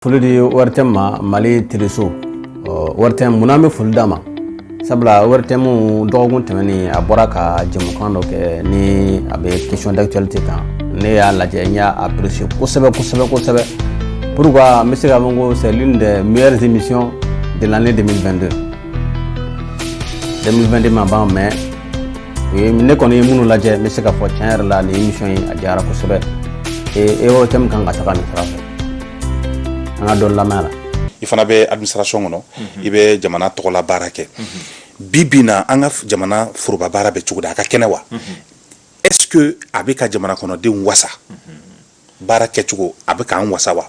foli de ye waritɛ ma mali tereso waritɛ munna bɛ foli d'a ma sabula waritɛmu dɔgɔkun tɛmɛnen a bɔra ka jamukan dɔ kɛ ni a bɛ kesɔn dacli tɛ kan ne y'a lajɛ n y'a aperese kosɛbɛ kosɛbɛ kosɛbɛ pur n bɛ se ka min ko sɛlin de miiriri misi dela ne de bɛdo denmisɛn2de ma ban mɛn u ye ne kɔni ye minnu lajɛ n bɛ se ka fɔ tiɲɛ yɛrɛ la ni misi ye a diyara kosɛbɛ ee e yɔrɔ tɛ min kan ka taga nin fara fɛ an ka dɔn lamɛn la i fana bɛ administration kɔnɔ i bɛ jamana tɔgɔla baara kɛ bi bi in na an ka f- jamana foroba baara bɛ cogo di a ka kɛnɛ wa est ce que a bɛ ka jamana kɔnɔdenw wasa baara kɛcogo a bɛ k'an wasa wa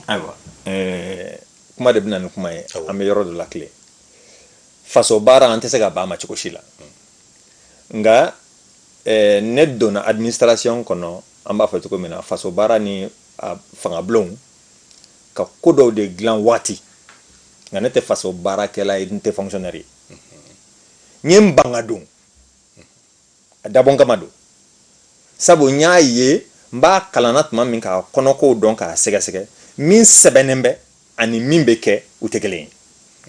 ayiwa ɛɛ, kuma de bɛ na ni kuma ye an bɛ yɔrɔ dɔ la tile faso baara an tɛ se ka ban a ma cogo si la nka eh, ne donna administration kɔnɔ an b'a fɔ cogo min na faso baara ni a fangabulonw ka ko dɔw de dilan waati nka ne tɛ faso baarakɛla ye n tɛ fonctionnaire ye n ye n ban ka don a dabɔn kama don sabu n y'a ye n b'a kalanna tuma min k'a kɔnɔkow dɔn k'a sɛgɛsɛgɛ min sɛbɛnnen bɛ ani min bɛ kɛ u tɛ kelen ye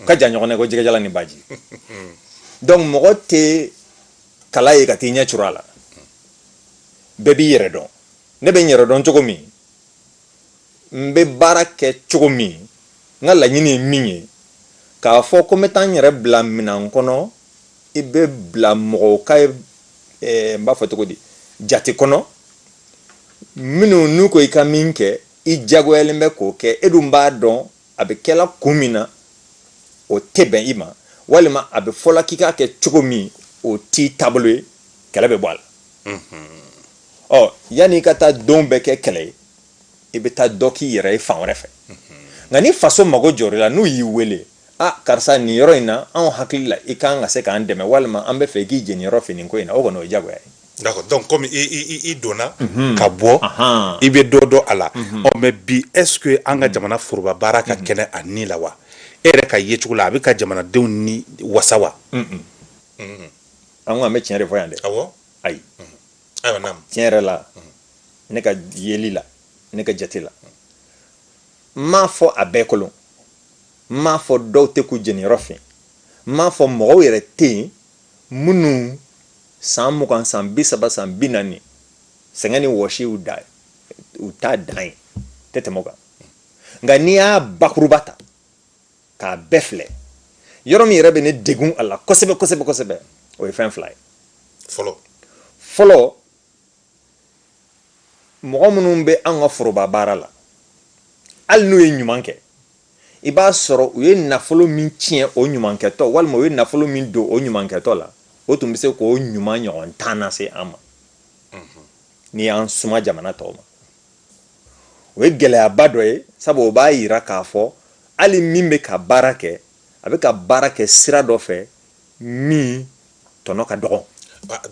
u ka jan ɲɔgɔn na ko jɛgɛjalan ni baji donc mɔgɔ tɛ kala ye ka t'i ɲɛ curu a la bɛɛ b'i yɛrɛ dɔn ne bɛ n yɛrɛ dɔn cogo min n bɛ baara kɛ cogo min n ka laɲini ye min ye k'a fɔ ko n bɛ taa n yɛrɛ bila minan kɔnɔ i bɛ bila mɔgɔw ka eh, n b'a fɔ cogo di jate kɔnɔ minnu n'u ko i ka min kɛ i jagoyalen bɛ k'o kɛ e dun b'a dɔn a bɛ kɛla kun min na o tɛ bɛn i ma walima a bɛ fɔla k'i k'a kɛ cogo min o t'i taabolo ye kɛlɛ bɛ bɔ a la ɔ yanni i ka taa don bɛɛ kɛ kɛlɛ ye i bɛ taa dɔ k'i yɛrɛ ye fan wɛrɛ fɛ nka ni faso mago jɔr'i la n'u y'i wele a karisa nin yɔrɔ in na anw hakili la i kan ka se k'an dɛmɛ walima an b'a fɛ i k'i jeniyɔrɔ fin nin ko in na o kɔni o ye jagoya ye donc kɔmi i donna ka bɔ i bɛ dɔ dɔn a la ɔ mais bi est ce que an ka jamana foroba baara ka kɛnɛ a ni la wa e yɛrɛ ka yecogo la a bɛ ka jamanadenw ni wasa wa an an bɛ tiɲɛ de fɔ yan dɛ awɔ ayi tiɲɛ yɛrɛ la ne ka yeli la ne ka jate la n m'a fɔ a bɛɛ kolon n m'a fɔ dɔw tɛ k'u jeniyɔrɔ fin n m'a fɔ mɔgɔw yɛrɛ tɛ yen Minnu san mugan san bi saba san bi naani sɛgɛn ni wɔsi u da u ta dan ye tɛ tɛmɛ u kan nka n'i y'a bakuruba ta k'a bɛɛ filɛ yɔrɔ min yɛrɛ bɛ ne degun a la kosɛbɛ kosɛbɛ kosɛbɛ o ye fɛn fila ye fɔlɔ fɔlɔ mɔgɔ minnu bɛ an ka foroba baara la hali n'u ye ɲuman kɛ i b'a sɔrɔ u ye nafolo min tiɲɛ o ɲumankɛtɔ walima u ye nafolo min don o ɲumankɛtɔ la o tun bɛ se k'o ɲuman ɲɔgɔn tan nase an ma n'i y'an suma jamana tɔw ma o ye gɛlɛyaba dɔ ye sabu o b'a yira k'a fɔ hali min bɛ ka baara kɛ a bɛ ka baara kɛ sira dɔ fɛ min tɔnɔ ka dɔgɔn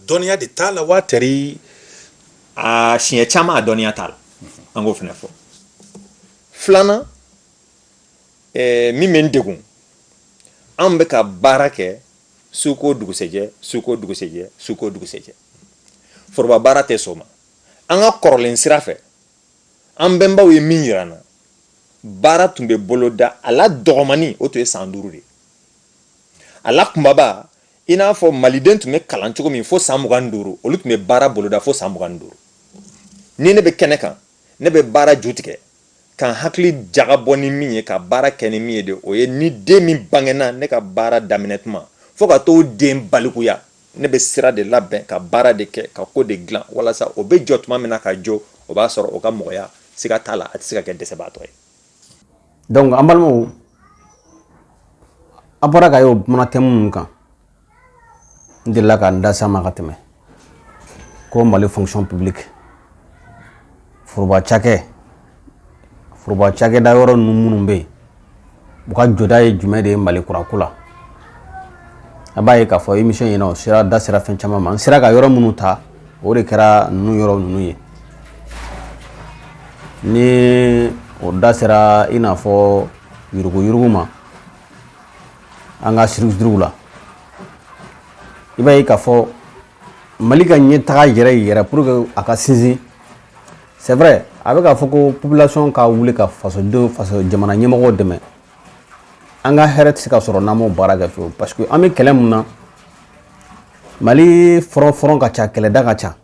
dɔnniya de t'a la wa tɛri a siɲɛ caman a dɔnniya t'a la an k'o fana fɔ filanan eh, min bɛ n degun an bɛ ka baara kɛ suko dugusɛjɛ suko dugusɛjɛ suko dugusɛjɛ foroba baara tɛ sɔn o ma an ka kɔrɔlen sira fɛ an bɛnbaw ye min yira an na baara tun bɛ boloda a la dɔgɔmani o tun ye san duuru de ye a la kunbaba i n'a fɔ maliden tun bɛ kalan cogo min fo san mugan ni duuru olu tun bɛ baara boloda fo san mugan ni duuru ni ne bɛ kɛnɛ kan ne bɛ baara jutigɛ ka n hakili jagabɔ ni min ye ka baara kɛ ni min ye de o ye ni den min bangena ne ka baara daminɛ tuma fo ka t'o den balikuya ne bɛ sira de labɛn ka baara de kɛ ka ko de dilan walasa o bɛ jɔ tuma min na ka jɔ o b'a sɔrɔ o ka mɔgɔya siga t'a la a tɛ se ka kɛ dɛsɛbaatɔ ye donc an balimaw a bɔra ka ye o kuma tɛ minnu kan n delila ka n da se a ma ka tɛmɛ ko mali fonction publique foroba cakɛ foroba cakɛda yɔrɔ ninnu minnu bɛ yen u ka jɔda ye jumɛn de ye mali kura ko la a b'a ye k'a fɔ émission in na o sera da sera fɛn caman ma n sera ka yɔrɔ minnu ta o de kɛra ninnu yɔrɔ ninnu ye ni o da sera i n'a fɔ yuruguyurugu ma an ka structures la i b'a ye k'a fɔ mali ka ɲɛtaga yɛrɛ yɛrɛ pour que a ka sinsin c'est vrai a bɛ k'a fɔ ko population ka wuli ka fasodenw faso jamana ɲɛmɔgɔw dɛmɛ an ka hɛrɛ tɛ se ka sɔrɔ n'an m'o baara kɛ fiyewu parce que an bɛ kɛlɛ mun na mali front front ka ca kɛlɛda ka ca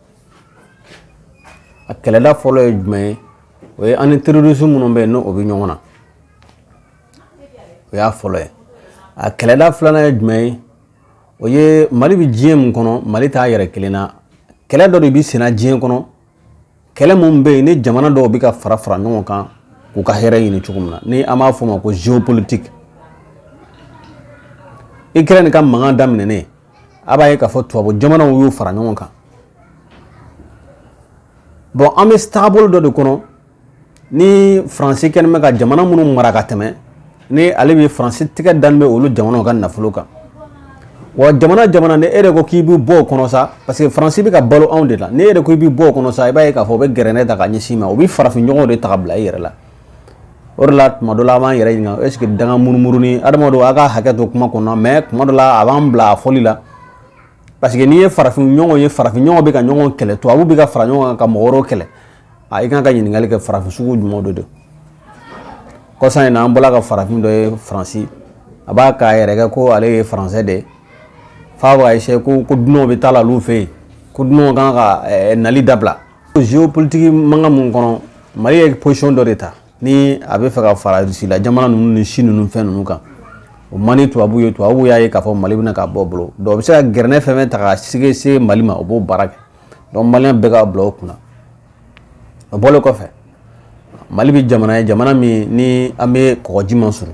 a kɛlɛda fɔlɔ ye jumɛn ye o ye an ni terroriste minnu bɛ yen n'o bɛ ɲɔgɔn na o y'a fɔlɔ ye a kɛlɛda filanan ye jumɛn ye o ye mali bɛ diɲɛ min kɔnɔ mali t'a yɛrɛ kelen na kɛlɛ dɔ de bɛ senna diɲɛ kɔnɔ kɛlɛ min bɛ yen ni jamana dɔw bɛ ka fara fara ɲɔgɔn kan k'u ka hɛrɛ ɲini cogo min na ni an b'a fɔ o ma ko géopolitique Ukraine ka mankan daminɛnen a b'a ye k'a fɔ tubabu jamanaw y'u fara ɲɔgɔn kan bon an bɛ taabolo dɔ de kɔnɔ ni faransi kɛlen bɛ ka jamana minnu mara ka tɛmɛ ni ale bɛ faransi tigɛ dalen bɛ olu jamana ka nafolo kan wa jamana jamana ni e de ko k'i bɛ bɔ o kɔnɔ sa parce que faransi bɛ ka balo anw de la ni e de ko i bɛ bɔ o kɔnɔ sa i b'a ye k'a fɔ o bɛ gɛrɛnɛ ta ka ɲɛsin i ma o bɛ farafinɲɔgɔn de ta ka bila i yɛrɛ la o de la tuma dɔ la an b'an yɛrɛ ɲininka est ce que danga munumunu ni adamadenw a ka hakɛ to kuma kɔnɔ mais tuma dɔ la a b'an bila a fɔli la parce que n'i ye farafinɲɔgɔn ye farafinɲɔgɔn bɛ ka ɲɔgɔn kɛlɛ tubabu bɛ ka fara ɲɔgɔn kan ka mɔgɔ wɛrɛw kɛlɛ a i kan ka ɲininkali kɛ farafin sugu jumɛn de don kɔsa in na an bɔla ka farafin dɔ ye faransi a b'a k'a yɛrɛ kɛ ko ale ye faransɛ de ye f'a b'a essayer ko ko dunanw bɛ taa la olu fɛ yen ko dunanw kan ka eh, nali dabila géopolitique mankan mun kɔnɔ mali ye position dɔ de ta ni a bɛ fɛ ka fara rusila jamana ninnu ni chine ninnu fɛn ninnu kan o man di tubabu ye tubabu y'a ye k'a fɔ mali bɛna ka bɔ u bolo donc o bɛ se ka gɛrɛnɛ fɛn o fɛn ta ka sɛgɛn se mali ma o b'o baara kɛ donc maliyɛn bɛɛ ka bila o kunna o bɔlen kɔfɛ mali bɛ jamana ye jamana min ni an bɛ kɔgɔji ma sɔrɔ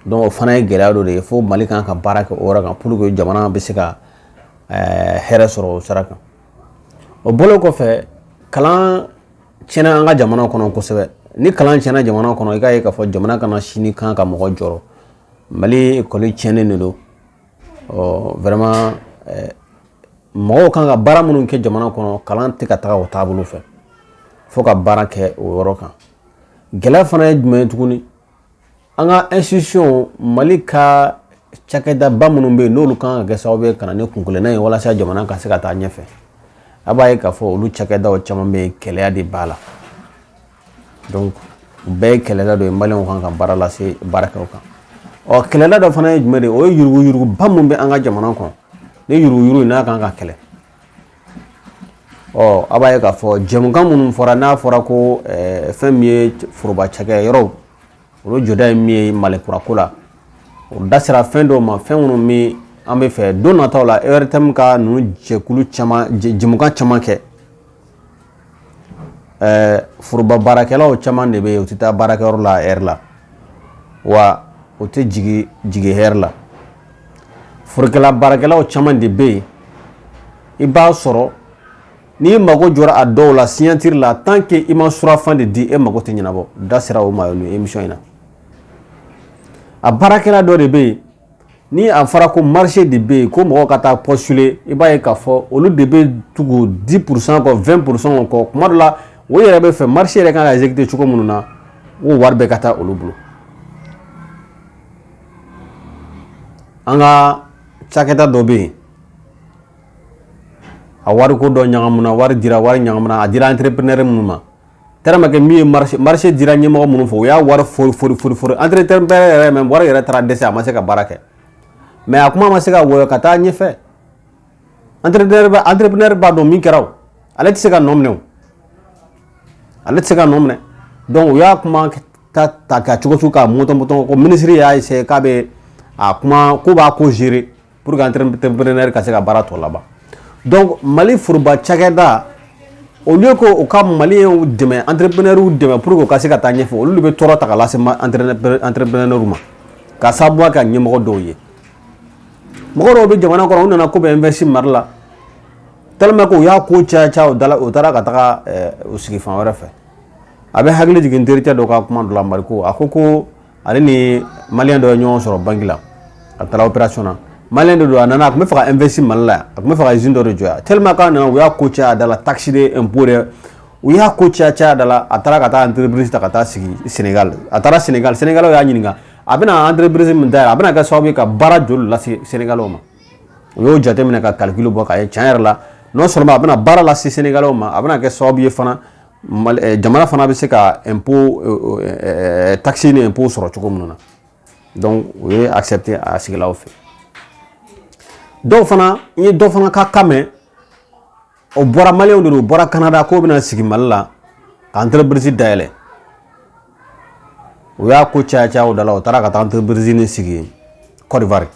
donc o fana ye gɛlɛya dɔ de ye fo mali kan ka baara kɛ o yɔrɔ kan pour que jamana bɛ se ka hɛrɛ sɔrɔ o sira kan o bɔlen kɔfɛ kalan tiɲɛna an ka jamana kɔnɔ kosɛbɛ ni kalan tiɲɛna jamana kɔnɔ i k'a ye k'a fɔ jamana kana sini kan ka mɔgɔ jɔrɔ mali école tiɲɛnen de don vraiment mɔgɔw kan ka baara minnu kɛ jamana kɔnɔ kalan tɛ ka taga o taabolo fɛ fo ka baara kɛ o yɔrɔ kan gɛlɛya fana ye jumɛn ye tuguni an ka institution mali ka cakɛdaba minnu bɛ yen n'olu kan ka kɛ sababu ye ka na ni kunkelenna ye walasa jamana ka se ka taa ɲɛfɛ a b'a ye k'a fɔ olu cakɛdaw caman bɛ yen kɛlɛya de b'a la donc o bɛɛ ye kɛlɛda dɔ ye maliyɛnw kan ka baara lase baara kɛ u kan ɔ kɛlɛda dɔ fana ye jumɛn de ye o ye yuruguyuruguba min bɛ an ka jamana kɔnɔ ni yuruguyurugu in n'a kan ka kɛlɛ ɔ a b'a ye k'a fɔ jɛmukan minnu fɔra n'a fɔra ko eh, fɛn min ye foroba cakɛyɔrɔw olu jɔda ye min ye mali kurako la o da sera fɛn dɔw ma fɛn minnu bɛ an bɛ fɛ don nataw la ortm ka ninnu jɛkulu caman jɛmukan caman kɛ ɛɛ foroba baarakɛlaw caman de bɛ yen u tɛ taa baarakɛyɔrɔ la a heure la wa u tɛ jigin jigin heure la forokɛla baarakɛlaw caman de bɛ yen i b'a sɔrɔ n'i mago jɔra a dɔw la signature la tant que i ma surafan de di e mago tɛ ɲɛnabɔ da sera o ma émission in na a baarakɛla dɔ de bɛ yen ni a fɔra ko marché de bɛ yen ko mɔgɔw ka taa postuler i b'a ye k'a fɔ olu de bɛ tugu 10 pourcent kɔ 20 pourcent kɔ tuma dɔ la o yɛrɛ b'a fɛ marché yɛrɛ kan ka exécuter cogo minnu na o wari bɛɛ ka taa olu bolo an ka cakɛda dɔ bɛ yen a wariko dɔ ɲagamuna wari dira wari ɲagamuna a dira entrepreneur minnu ma tellement que min ye marché dira ɲɛmɔgɔ minnu fɛ u y'a wari fori fori fori fori entrepreneur yɛrɛ même wari yɛrɛ taara dɛsɛ a ma se ka baara kɛ mais a kuma ma se ka wɔyɔ ka taa ɲɛfɛ entrepreneur b'a dɔn min kɛra o ale tɛ se ka nɔ minɛ o ale tɛ se ka nɔ minɛ donc u y'a kuma ta ta ka cogo sugu k'a mɔtɔn mɔtɔn ko minisiri y'a essayer k'a bɛ a kuma ko b'a ko gérer pour que entrepreneur ka se ka baara tɔ laban donc mali foroba cakɛda au lieu que u ka maliyɛnw dɛmɛ entrepreneurs dɛmɛ pour que u ka se ka taa ɲɛfɛ olu de bɛ tɔɔrɔ ta ka lase entrepreneurs ma ka sababu kɛ ɲɛmɔgɔ dɔw ye mɔgɔ dɔw bɛ jamana kɔnɔ u nana k'u bɛ investir mali la tellement que u y'a ko caya caya u taara ka taga u sigi fan wɛrɛ fɛ a bɛ hakili jigin terikɛ dɔ ka kuma dɔ la mariko a ko ko ale ni maliyɛn dɔ ye ɲɔgɔn sɔrɔ banki la a taara opération na maliyɛn de don a nana a tun bɛ fɛ ka investir mali la a tun bɛ fɛ ka izini dɔ de jɔ yan tellement que a nana u y'a ko caya da la takisi de ɛnpo de u y'a ko caya caya da la a taara ka taa entreprise ta ka taa sigi senegal a taara senegal senegalaw y'a ɲininka a bɛna entreprise min dayɛlɛ a bɛna kɛ sababu ye ka baara joli lase senegalaw ma u y'o jateminɛ ka calcul bɔ k'a ye tiɲɛ yɛrɛ la non seulement a bɛna baara lase senegalaw ma a bɛna kɛ sababu ye fana eh, jamana fana bɛ se ka ɛnpo eh, eh, takisi ni ɛnpo sɔrɔ cogo minnu na donc o ye accepté a sigila u fɛ dɔw fana n ye dɔ fana ka kan mɛn o bɔra maliyɛnw de don o bɔra kanada k'o bɛna sigi mali la ka entreprise dayɛlɛ u y'a ko caya caya o da la u taara ka taa entreprise nin sigi Côte d'Ivoire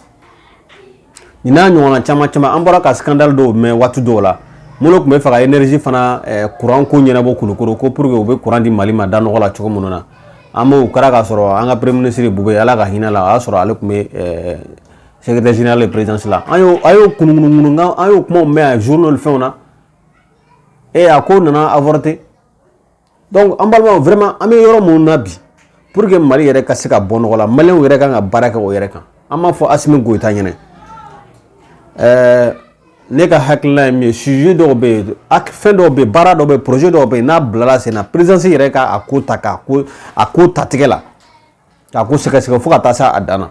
nin n'a ɲɔgɔnna caman caman an bɔra ka scandale dɔw mɛn waati dɔw la minnu tun bɛ fɛ ka énergie fana eh, courant ko ɲɛnabɔ kulukoro ko pour que u bɛ courant di mali ma da nɔgɔ la cogo minnu na an b'o kɛra k'a sɔrɔ an ka premier ministre bube ala ka hinɛ a la o y'a sɔrɔ ale tun bɛ eh, secrétaire général de présidence la an y'o a y'o kunukunukunu nka an y'o kumaw mɛn a journal fɛnw na e a ko nana avorter donc an balimaw vraiment an bɛ yɔrɔ minnu na bi pour que mali yɛrɛ ka se ka bɔ nɔgɔ la maliyɛnw yɛrɛ kan ka baara kɛ o yɛrɛ kan an b'a fɔ asimi goyita ɲɛ na ɛɛ ne ka hakilina ye min ye sujet dɔw bɛ yen fɛn dɔw bɛ yen baara dɔw bɛ yen projet dɔw bɛ yen n'a bilala sen na présidence yɛrɛ ka a ko ta k'a ko a ko ta tigɛ la k'a ko sɛgɛsɛgɛ fo ka taa se a dan na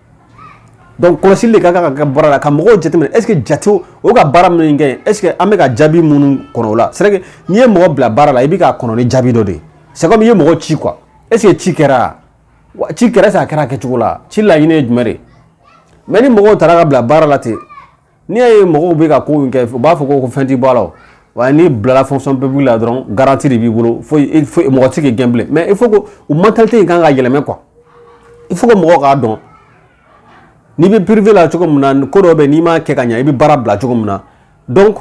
Donc kɔlɔsili de ka kan ka kɛ baara la ka mɔgɔw jateminɛ est-ce que jate o ka baara min kɛ est-ce que an bɛ ka jaabi minnu kɔnɔ o la c'est vrai que n'i ye mɔgɔ bila baara la i bɛ k'a kɔnɔ ni jaabi dɔ de ye c'est comme i ye mɔgɔ ci quoi est-ce que ci kɛra ci kɛra est-ce que a kɛra a kɛcogo la ci laɲini ye jumɛn de ye mais ni mɔgɔw taara ka bila baara la ten N'i y'a ye mɔgɔw bɛ ka ko in kɛ u b'a fɔ ko ko fɛn t'i bɔ a la wa n'i bilala fonction publique la dɔrɔn garantie de b'i bolo fo mɔgɔ tɛ se k'i gɛn bilen mais il faut que o mentalité in kan ka yɛlɛmɛ quoi il faut que mɔgɔw k'a dɔn n'i bɛ privé la cogo min na ko dɔ bɛ n'i m'a kɛ ka ɲɛ i bɛ baara bila cogo min na donc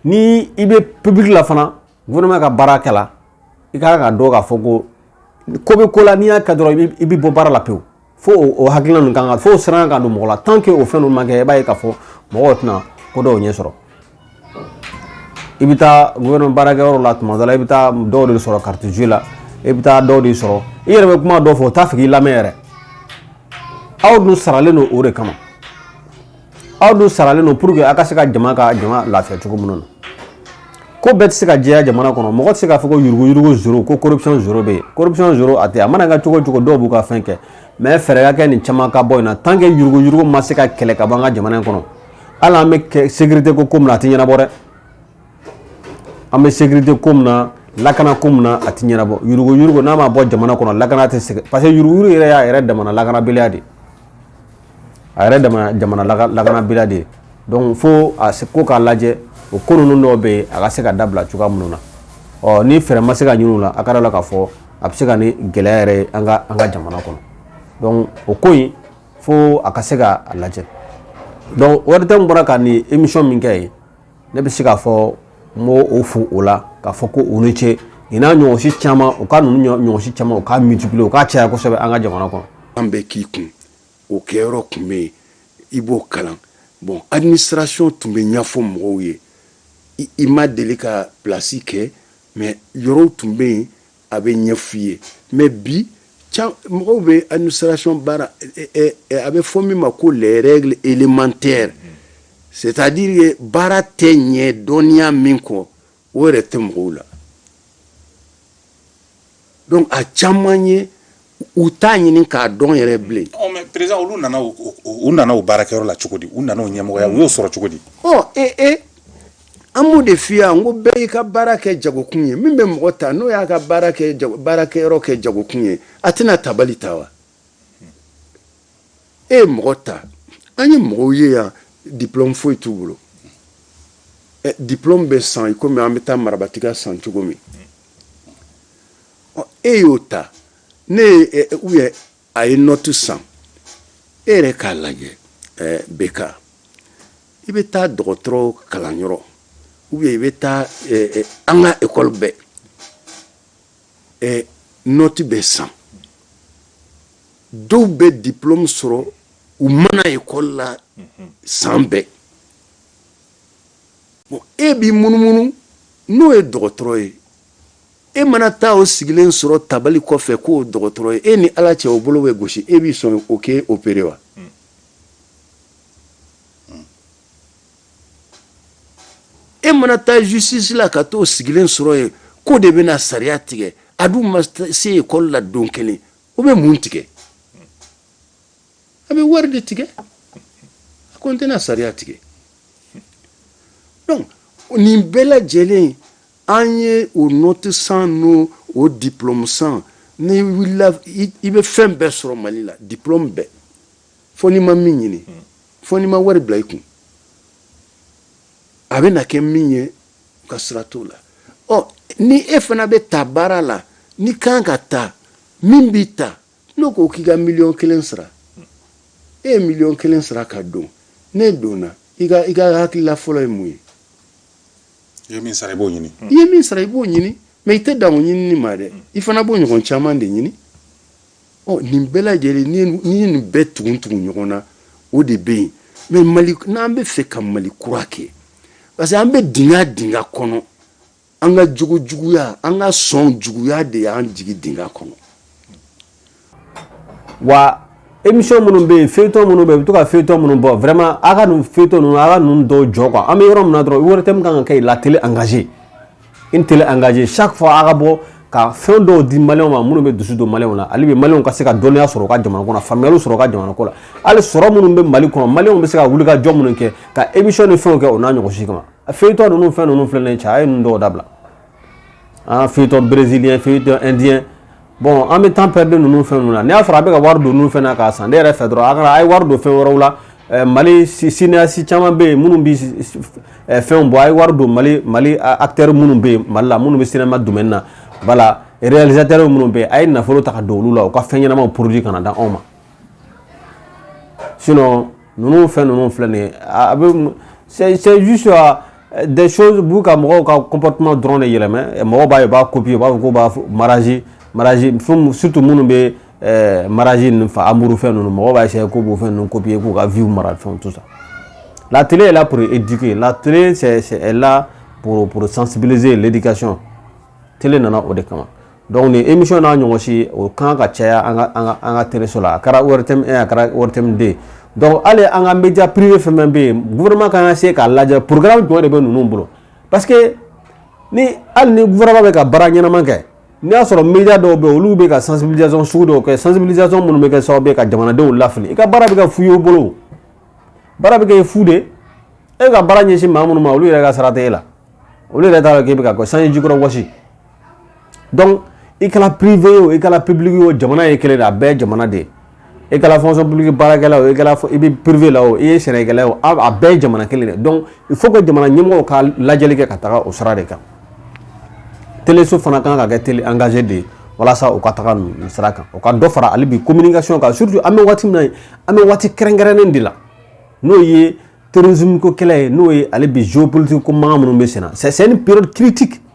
ni i bɛ public la fana gouvernement ka baara kɛ la i ka kan ka dɔn k'a fɔ ko ko bɛ ko la n'i y'a kɛ dɔrɔn i bɛ bɔ baara la pewu. fo o hakilina ninnu kan ka fo siran ka don mɔgɔ la tant que o fɛn ninnu ma kɛ i b'a ye k'a fɔ mɔgɔw tɛna ko dɔw ɲɛ sɔrɔ i bɛ taa gouvernement baarakɛyɔrɔ la tuma dɔ la i bɛ taa dɔw de sɔrɔ carte jeu la i bɛ taa dɔw de sɔrɔ i yɛrɛ bɛ kuma dɔw fɔ u t'a fɛ k'i lamɛn yɛrɛ aw dun saralen don o de kama aw dun saralen don pour que aw ka se ka jama ka jama lafiya cogo minnu na ko bɛɛ tɛ se ka jɛya jamana kɔnɔ mɔgɔ tɛ se k'a fɔ ko yuruguyurugu zéro ko corruption zéro bɛ yen corruption zéro a tɛ a mana kɛ cogo o cogo dɔw b'u ka fɛn kɛ mais fɛɛrɛ ka kɛ nin caman ka bɔ in na tant que yuruguyurugu ma se ka kɛlɛ ka bɔ an ka jamana in kɔnɔ hali an bɛ sécurité ko ko min na a tɛ ɲɛnabɔ dɛ an bɛ sécurité ko min na lakana ko min na a tɛ ɲɛnabɔ yuruguyurugu n'a ma bɔ jamana kɔnɔ lakana tɛ segin parce que yuruguyurugu yɛrɛ y'a yɛrɛ damana lakanabaliya de ye a yɛrɛ dama jamana laka- lakanabaliya de ye donc fo a se ko k'a lajɛ o ko ninnu dɔw bɛ yen a ka se ka dabila cogoya minnu na ɔ ni fɛɛrɛ ma se ka ɲini u la a ka da la k'a fɔ a bɛ se ka ni gɛlɛya yɛrɛ ye an ka an ka jamana kɔnɔ donc o ko in fo a ka se ka a lajɛ donc ORTM bɔra ka nin émission min kɛ ye ne bɛ se k'a fɔ n b'u fo o la k'a fɔ ko u ni ce nin n'a ɲɔgɔn si caman u ka ninnu ɲɔ- ɲɔgɔn si caman u k'a multiplier u k'a caya kosɛbɛ an ka jamana kɔnɔ an bɛ k'i kun o kɛyɔrɔ tun bɛ yen i b'o kalan bon administration tun bɛ ɲɛfɔ mɔgɔw ye i ma deli ka place kɛ mais yɔrɔw tun bɛ yen a bɛ ɲɛfɔ i ye mais bi mɔgɔw bɛ administration baara a bɛ fɔ min ma ko les règles élémentaires c'est à dire que baara tɛ ɲɛ dɔnniya min kɔ o yɛrɛ tɛ mɔgɔw la donc a caman ye u t'a ɲini k'a dɔn yɛrɛ bilen ɔ mais président olu nana u nana u baarakɛyɔrɔ la cogo di u nana u ɲɛmɔgɔya u y'o sɔrɔ cogo di ɔ ee ee an b'o de f'i ye n ko bɛɛ y'i ka baara kɛ jagokun ye min bɛ mɔgɔ ta n'o y'a ka baarakɛyɔrɔ kɛ jagokun ye a tɛna tabali ta wa e ye mɔgɔ ta an ye mɔgɔw ye yan diplôme foyi t'u bolo eh, diplôme bɛ san i komi an bɛ taa marabatiga san cogo min e y'o ta ne ye eh, eh, ou bien a ye note san e yɛrɛ k'a lajɛ beka i bɛ taa dɔgɔtɔrɔw kalanyɔrɔ ou bien i bɛ taa an ka école bɛɛ ɛ note bɛ san dɔw bɛ diplôme sɔrɔ u ma na école la san bɛɛ bon e b'i munumunu n'o ye dɔgɔtɔrɔ ye e mana taa o sigilen sɔrɔ tabali kɔfɛ k'o dɔgɔtɔrɔ ye e ni ala cɛ o bolo bɛ gosi e bɛ sɔn o k'e opérer wa e mana taa justice la ka t'o sigilen sɔrɔ yen k'o de bɛna sariya tigɛ a dun ma se école la don kelen o bɛ mun tigɛ a bɛ wari de tigɛ a kɔni tɛna sariya tigɛ donc nin bɛɛ lajɛlen an ye o note san n'o o diplôme san n'i wulila i bɛ fɛn bɛɛ sɔrɔ Mali la diplôme bɛɛ fo n'i ma min ɲini fo n'i ma wari bila i kun a bɛna kɛ min ye ka sira t'o la ɔ ni e fana bɛ ta baara la n'i kan ka ta min b'i ta n'o ko k'i ka miliyɔn kelen sara e ye miliyɔn kelen sara ka don n'e donna i ka i ka hakilila fɔlɔ ye mun ye i ye min sara i b'o ɲini i ye min sara i b'o ɲini mais i tɛ dan o ɲinini ma dɛ i fana b'o ɲɔgɔn caman de ɲini ɔ nin bɛɛ lajɛlen n'i ye nin bɛɛ tugun tugun ɲɔgɔn na o de bɛ yen mais mali n'an bɛ fɛ ka mali kura kɛ parce que an bɛ dingɛ dingɛ kɔnɔ an ka jogo juguya an ka sɔn juguya de y'an jigi dingɛ kɔnɔ wa émission minnu bɛ yen feuilleton minnu bɛ yen u bɛ to ka feuilleton minnu bɔ vraiment a ka nin feuilleton ninnu a ka ninnu dɔw jɔ quoi an bɛ yɔrɔ min na dɔrɔn ORTM kan ka kɛ la télé engagée une télé engagée chaque fois a ka bɔ ka fɛn dɔw di maliyɛnw ma minnu bɛ dusu don maliyɛnw na ale bɛ maliyɛnw ka se ka dɔnniya sɔrɔ u ka jamana kɔnɔ faamuyali sɔrɔ u ka jamana ko la hali sɔrɔ minnu bɛ mali kɔnɔ maliyɛnw bɛ se ka wuli ka jɔ minnu kɛ ka émission ni fɛnw kɛ o n'a ɲɔgɔn si kama a feuilleton ninnu fɛn ninnu filɛ nin ye cɛ a ye ninnu dɔw dabila an feuilleton brésilien feuilleton indien bon an bɛ temps perdu ninnu fɛn ninnu na n'i y'a sɔrɔ a bɛ ka wari don ninnu fɛn na k'a san ne yɛrɛ fɛ dɔrɔn a kana a ye wari don fɛn wɛrɛw la eh, mali cinéaste caman bɛ yen minnu bɛ eh, fɛnw bɔ a ye wari don mali mali acteurs minnu bɛ yen mali la minnu bɛ cinéma domaine na voilà réalisateur minnu bɛ a ye nafolo ta ka don olu la u ka fɛn ɲɛnamaw produit ka n'a d'anw ma sinon ninnu fɛn ninnu filɛ nin ye a bɛ c'est c'est juste euh, des choses b'u ka mɔgɔw ka comportement dɔrɔn de yɛlɛmɛ mɔgɔw b'a ye u b'a copier u b'a fɔ k'u b'a mariage mariage fɛn surtout minnu bɛ euh, mariage ninnu fa amour fɛn ninnu mɔgɔw b'a essayer k'u b'o fɛn ninnu copier k'u ka vie mara fɛn tout ça la télé est là pour éduquer la télé c'est c'est est là pour pour sensibiliser l'éducation télé nana o de kama dɔnku ni émission n'a ɲɔgɔn si o kan ka caya an ka teleso la a kɛra ORTM 1 a kɛra ORTM 2 dɔnku hali an ka média privé fɛn fɛn bɛ yen gouvernement kan ka se k'a lajɛ programme jumɛn de bɛ ninnu bolo parce que ni hali ni gouvernement bɛ ka baara ɲɛnama kɛ n'i y'a sɔrɔ média dɔw bɛ yen olu bɛ ka sensibilisation sugu dɔw kɛ sensibilisation minnu bɛ kɛ sababu ye ka jamanadenw lafili i ka baara bɛ kɛ fu ye o bolo baara bɛ kɛ fu de e ka baara ɲɛsin maa minnu ma olu yɛrɛ ka sara tɛ e la olu yɛrɛ t'a dɔn k'i bɛ ka sanji jukɔrɔ wɔsi dɔnku i kɛra privé ye o i kɛra public ye o jamana ye kelen a bɛɛ jamana de ye i kɛra fonction publique baarakɛla o i bɛ privé la o i ye sɛnɛkɛla ye o a bɛɛ jamana kelen de dɔnku il faut que jamana ɲɛmɔgɔw ka lajɛli kɛ ka taga o sira de kan teleso fana kan ka kɛ télé engagé de ye walasa u ka taga nin sira kan u ka dɔ fara hali bi communication kan surtout an bɛ waati min na an bɛ waati kɛrɛnkɛrɛnnen de la n'o ye terrorisme ko kɛlɛ ye n'o ye hali bi géopolitique ko mankan minnu bɛ sen na c'est une période critique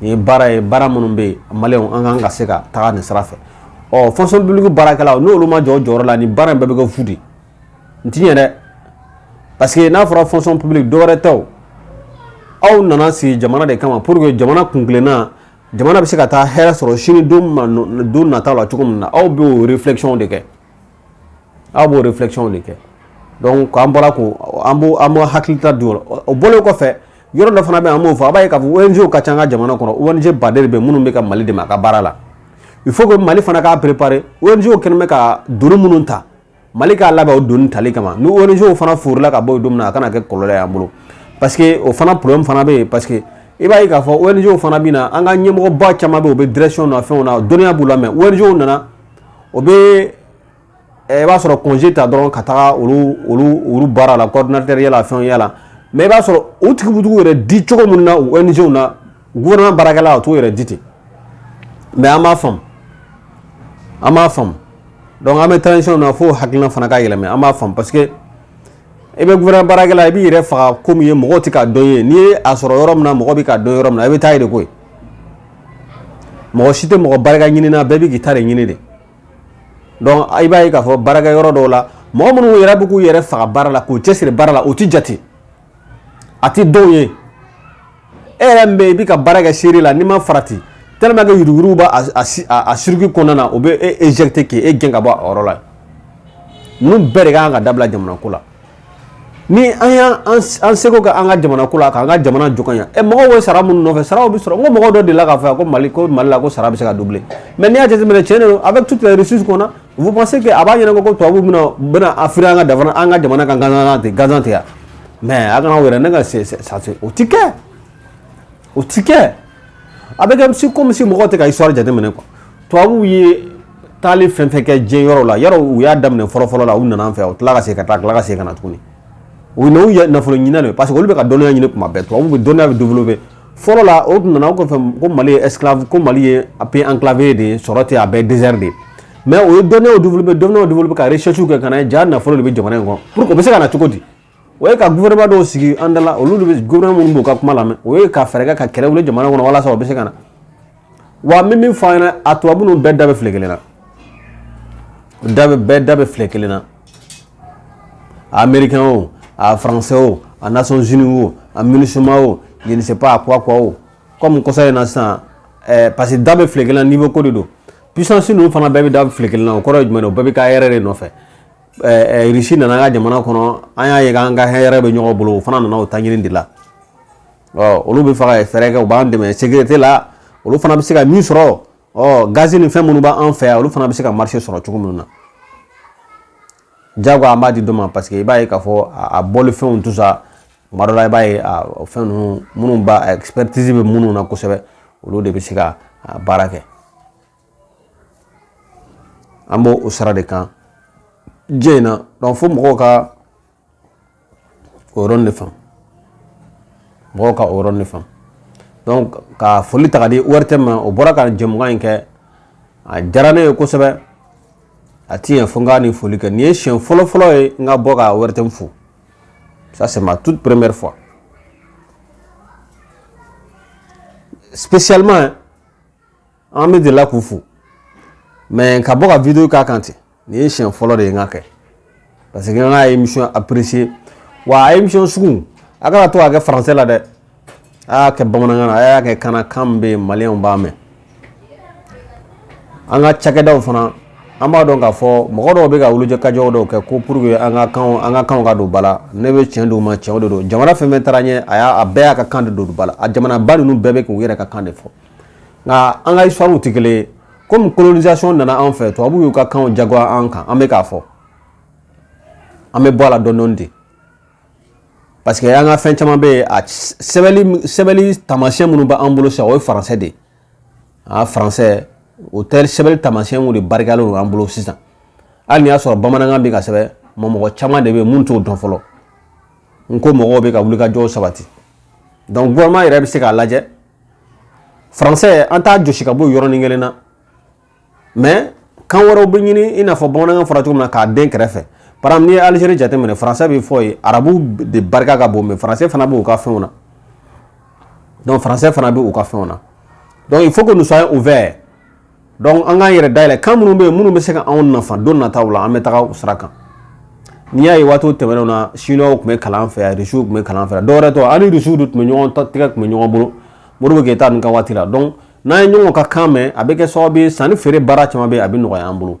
Nin ye baara ye baara minnu bɛ yen maliyɛnw an kan ka se ka taa nin sira fɛ ɔ fonction publique baarakɛlaw n'olu ma jɔ o jɔyɔrɔ la nin baara in bɛɛ bɛ kɛ fu de n ti yɛrɛ parce que n'a fɔra fonction publique dɔwɛrɛ tɛ aw nana sigi jamana de kama pour que jamana kun kelenna jamana bɛ se ka taa hɛrɛ sɔrɔ sini don nataw la cogo min na aw b'o réflexion de kɛ aw b'o réflexion de kɛ dɔnku an bɔra ko an b'an hakilita di o la o bɔlen kɔfɛ yɔrɔ dɔ fana bɛ yen an b'o fɔ a b'a ye k'a fɔ ONG ka ca an ka jamana kɔnɔ ONG baden de bɛ minnu bɛ ka Mali dɛmɛ a ka baara la il faut que Mali fana k'a préparer ONG kɛlen bɛ ka doni minnu ta Mali k'a labɛn o doni tali kama ni ONG fana wulila ka bɔ yen don min na a kana kɛ kɔlɔlɔ ye an bolo parce que o fana problème fana bɛ yen parce que i b'a ye k'a fɔ ONG fana bɛ na an ka ɲɛmɔgɔba caman bɛ yen o bɛ direction na fɛnw na dɔnniya b'u la mais ONG nana o bɛ i b'a sɔrɔ congé ta dɔrɔn ka taga olu baara la coordinateurya la fɛnya la mais i b'a sɔrɔ o tigiw b'u yɛrɛ di cogo min na ONG na gouvernement baarakɛla o t'o yɛrɛ di ten mais an b'a faamu an b'a faamu dɔnku an bɛ transition na fo hakilina fana ka yɛlɛma an b'a faamu parce que i bɛ gouvernement baarakɛla i b'i yɛrɛ faga ko min ye mɔgɔ tɛ k'a dɔn ye n'i ye a sɔrɔ yɔrɔ min na mɔgɔ bɛ k'a dɔn yɔrɔ min na i bɛ taa yen de koyi mɔgɔ si tɛ mɔgɔ barika ɲini na bɛɛ bɛ k'i ta de ɲini de dɔnku i b'a ye k'a fɔ baarakɛyɔrɔ dɔw la mɔgɔ minnu yɛrɛ bɛ k'u yɛrɛ faga baara la k'u cɛsiri baara la u tɛ jate a tɛ dɔw ye e yɛrɛ min bɛ i bɛ ka baara kɛ seere la n'i ma farati tellement que yuruguyurugu b'a a circuit kɔnɔna na o bɛ e éjecter k'e gɛn ka bɔ a yɔrɔ la ninnu bɛɛ de ka kan ka dabila jamana ko la ni an y'a an seko kɛ an ka jamana ko la k'an ka jamana jɔ ka ɲɛ mɔgɔw bɛ sara minnu nɔfɛ saraw bɛ sɔrɔ n ko mɔgɔ dɔ delila k'a fɔ ko mali ko mali la ko sara bɛ se ka doubler mais n'i y'a jateminɛ tiɲɛ de don avec toutes les richesses qu'on a vous pensez que a b'a ɲɛna ko tubabuw bɛna bɛna affluer an ka dafa an ka jamana kan gansan tɛ gansan tɛ yan mais a kana a yɛrɛ nɛgɛn o tɛ kɛ o ti kɛ a bɛ kɛ comme si comme si mɔgɔw tɛ ka histoire jateminɛ quoi tubabuw ye taali fɛn fɛn kɛ diɲɛ yɔrɔ la yɔrɔ u y'a daminɛ fɔlɔfɔlɔ la u nana an fɛ u tila ka segin ka taa tila ka segin ka na tuguni u na u ye nafolo ɲini de parce que olu bɛ ka dɔnniya ɲini kuma bɛɛ tubabuw bɛ dɔnniya bɛ développer fɔlɔ la o tun nana o kɔfɛ ko mali ye esclave ko mali ye a pays enclavé de ye sɔrɔ tɛ a bɛɛ désert de ye mais o ye dɔnniyaw développer dɔnniyaw développer ka recherche kɛ ka na jaa nafolo de bɛ jamana in kɔnɔ pour que o bɛ se ka na cogo di o ye ka gouvernement dɔw sigi an dala olu de bɛ gouvernement minnu b'u ka kuma lamɛn o ye ka fɛɛrɛ kɛ ka kɛlɛ wuli jamana kɔnɔ walasa u bɛ se ka na wa n bɛ min fɔ an ɲɛna a tubabu ninnu bɛɛ da bɛ file kelen na da bɛ bɛɛ da bɛ file kelen na a américain o a français o a nations unies o a minusma o je ne sais pas a quoi quoi o comme kɔsa in na sisan ɛɛ parce que da bɛ file kelen na niveau ko de don puissance ninnu fana bɛɛ bɛ da file kelen na o kɔrɔ ye jumɛn ye o bɛɛ bɛ ka hɛrɛ de nɔfɛ irisi nana an ka jamana kɔnɔ an y'a ye k'an ka hɛrɛ bɛ ɲɔgɔn bolo o fana nana o ta ɲini de la ɔ olu bɛ fɛ ka fɛɛrɛ kɛ u b'an dɛmɛ sécurité la olu fana bɛ se ka min sɔrɔ ɔ gazi ni fɛn minnu b'an fɛ yan olu fana bɛ se ka marché sɔrɔ cogo minnu na jago an b'a di dɔ ma parce que i b'a ye k'a fɔ a bɔli fɛnw tout ça kuma dɔ la i b'a ye fɛn ninnu minnu b'a expertise bɛ minnu na kosɛbɛ olu de bɛ se ka baara kɛ an b'o o sara de kan diɲɛ in na donc fo mɔgɔw ka o yɔrɔnin de faamu mɔgɔw ka o yɔrɔnin de faamu donc ka foli ta k'a di ortm ma o bɔra ka jɛmukan in kɛ a diyara ne ye kosɛbɛ a ti ɲɛ fo n ka nin foli kɛ nin ye siɲɛ fɔlɔ fɔlɔ ye n ka bɔ ka ortm fo ça c'est ma toute première fois spécialement an bɛ delila k'u fo mais ka bɔ ka vidéo k'a kan ten nin ye siɲɛ fɔlɔ de ye n k'a kɛ parce que n ka émission apprécier wa a émission sugu a kana to k'a kɛ français la dɛ a y'a kɛ bamanankan na a y'a kɛ kana kan min bɛ yen maliyɛnw b'a mɛn an ka cakɛdaw fana an b'a dɔn k'a fɔ mɔgɔ dɔw bɛ ka wulikajɔw dɔw kɛ ko pour que an ka kanw an ka kanw ka don ba la ne bɛ tiɲɛ d'u ma tiɲɛw de don jamana fɛn fɛn taara ɲɛ a y'a a bɛɛ y'a ka kan de don ba la a jamanaba ninnu bɛɛ bɛ k'u yɛrɛ ka kan de fɔ nka an ka histoire tɛ kelen ye comme colonisation nana an fɛ tubabuw y'u ka kanw jagoya an kan an bɛ k'a fɔ an bɛ bɔ a la dɔɔni dɔɔni de parce que an ka fɛn caman bɛ yen a sɛbɛnni sɛbɛnni taamasiyɛn minnu bɛ an bolo sisan o ye français de ye a français o tɛ sɛbɛnni taamasiyɛnw de barikalen don an bolo sisan hali n'i y'a sɔrɔ bamanankan bɛ ka sɛbɛn ma mɔgɔ caman de bɛ yen minnu t'o dɔn fɔlɔ nko mɔgɔw bɛ ka wulikajɔw sabati donc gouvernement yɛrɛ bɛ se k'a lajɛ faransɛ an t'a jɔsi ka bɔ yɔrɔnin kelen na mɛ kan wɛrɛw bɛ ɲini i n'a fɔ bamanankan fɔra cogo min na k'a den kɛrɛfɛ par exemple n'i ye alizeri jateminɛ faransɛ bɛ fɔ yen arabu de barika ka bon mɛ faransɛ fana b'u ka fɛnw na donc faransɛ fana bɛ u ka fɛnw na donc il faut que nous soyons ouverts donc an k'an yɛrɛ dayɛlɛ kan minnu bɛ yen minnu bɛ se ka anw nafa don nataw la an bɛ taga o sira kan n'i y'a ye waati tɛmɛnenw na chinois tun bɛ kalan an fɛ yan risiw tun bɛ kalan an fɛ yan dɔwɛrɛ tɛ an ni risiw de tun bɛ ɲɔgɔn tɛgɛ tun bɛ ɲɔgɔn bolo Modibo Keyita ninnu ka waati la donc n'an ye ɲɔgɔn ka kan mɛn a bɛ kɛ sababu ye sanni feere baara caman bɛ yen a bɛ nɔgɔya an bolo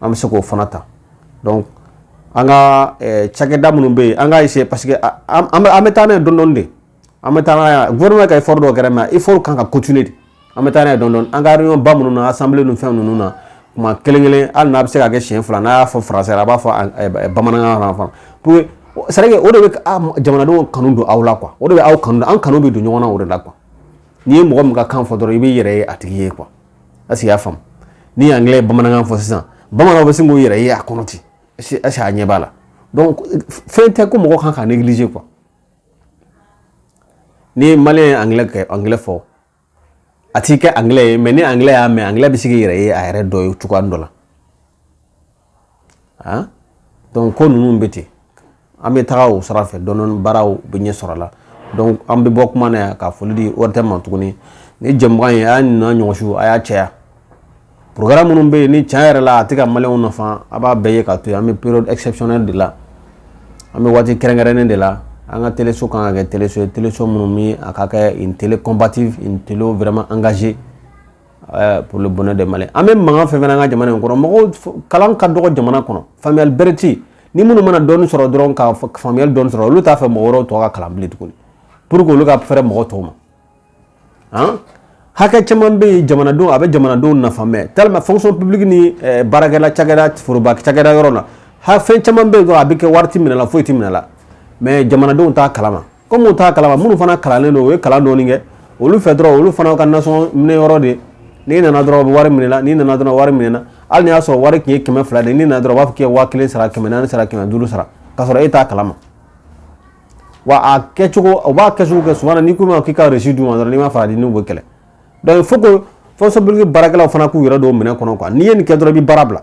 an bɛ se k'o fana ta donc an ka eh, cakɛda minnu bɛ yen an k'a essayer parce que an bɛ taa n'a ye dɔɔni dɔɔni de an bɛ taa n'a ye gouvernement ka effort dɔw kɛra mais effort kan ka continuer de an bɛ taa n'a ye dɔɔni dɔɔni an ka réunion ba minnu na assemblée ni fɛn ninnu na tuma kelen kelen hali n'a bɛ se ka kɛ siɲɛ fila n'a y'a fɔ français la a b'a fɔ eh, eh, bamanankan na fana pour que c'est vrai que o de bɛ ah, jamanadenw kanu don aw la quoi o de bɛ aw kanu don an kanu bɛ don ɲɔgɔn na o de la quoi n'i ye mɔgɔ min ka kan fɔ dɔrɔn i b'i yɛrɛ ye a tigi ye quoi i y'a faamu ni angilɛ ye bamanankan fɔ sisan bamananw bɛ sin k'u yɛrɛ ye a kɔnɔ ten est-ce que a ɲɛ b'a la fɛn tɛ ko mɔgɔ kan ka négliger quoi n'i ye maliyɛn ye angilɛ fɔ a t'i kɛ angilɛ ye mɛ ni angilɛ y'a mɛn angilɛ bɛ se k'i yɛrɛ ye a yɛrɛ dɔ ye cogoya dɔ la han donc ko ninnu bɛ ten an bɛ taga o sira fɛ dɔɔni baaraw bɛ ɲɛ sɔrɔ la donc an bɛ bɔ kuma na yan ka foli di ORTM ma tuguni ni jɛmukan ye a y'a ɲininka ɲɔgɔnsu a y'a caya programme minnu bɛ yen ni tiɲɛ yɛrɛ la a tɛ ka maliyɛnw nafa a b'a bɛɛ ye ka to yen an bɛ période exceptionnelle de la an bɛ waati kɛrɛnkɛrɛnnen de la an ka teleso kan ka kɛ teleso ye teleso minnu bɛ a ka kɛ une télé combative une télé vraiment engagée pour le bonheur des Maliens an bɛ mankan fɛn fɛn an ka jamana in kɔnɔ mɔgɔw kalan ka dɔgɔ jamana kɔnɔ faamuyali bɛrɛ tɛ yen ni minnu mana dɔɔni sɔrɔ dɔrɔn ka faamuyali dɔɔni sɔrɔ olu t'a fɛ mɔgɔ wɛrɛw tɔ ka kalan bilen tuguni pour que olu ka fɛrɛ mɔgɔ tɔw ma han hakɛ caman bɛ yen jamanadenw a bɛ jamanadenw nafa mɛ tellement fonction publique ni baarakɛla cakɛda foroba cakɛda yɔrɔ la ha fɛn caman bɛ yen dɔrɔn a bɛ kɛ wari tɛ minɛ la foyi tɛ minɛ la mɛ jamanadenw t'a kalama kɔmi u t'a kalama minnu fana kalannen don u ye kalan dɔɔni kɛ olu fɛ dɔrɔn olu fana ka nasɔngɔ minɛ yɔrɔ de n'i nana dɔrɔn u bɛ wari minɛ la n'i nana dɔrɔn wari minɛ na hali n'i y'a sɔrɔ wari tun ye kɛmɛ fila de ye n'i nana dɔrɔn u b'a fɔ k'i ye waa kelen sara kɛmɛ naani sara kɛmɛ duuru sara k'a sɔrɔ e t'a kalama wa a kɛcogo u b'a kɛcogo kɛ souvent n'i k'u ma k'i ka resi d'u ma dɔrɔn n'i ma farati i n'u bɛ kɛlɛ donc il faut que fonction publique baarakɛlaw fana k'u yɛrɛ don minɛn kɔnɔ quoi n'i ye nin kɛ dɔrɔn i bɛ baara bila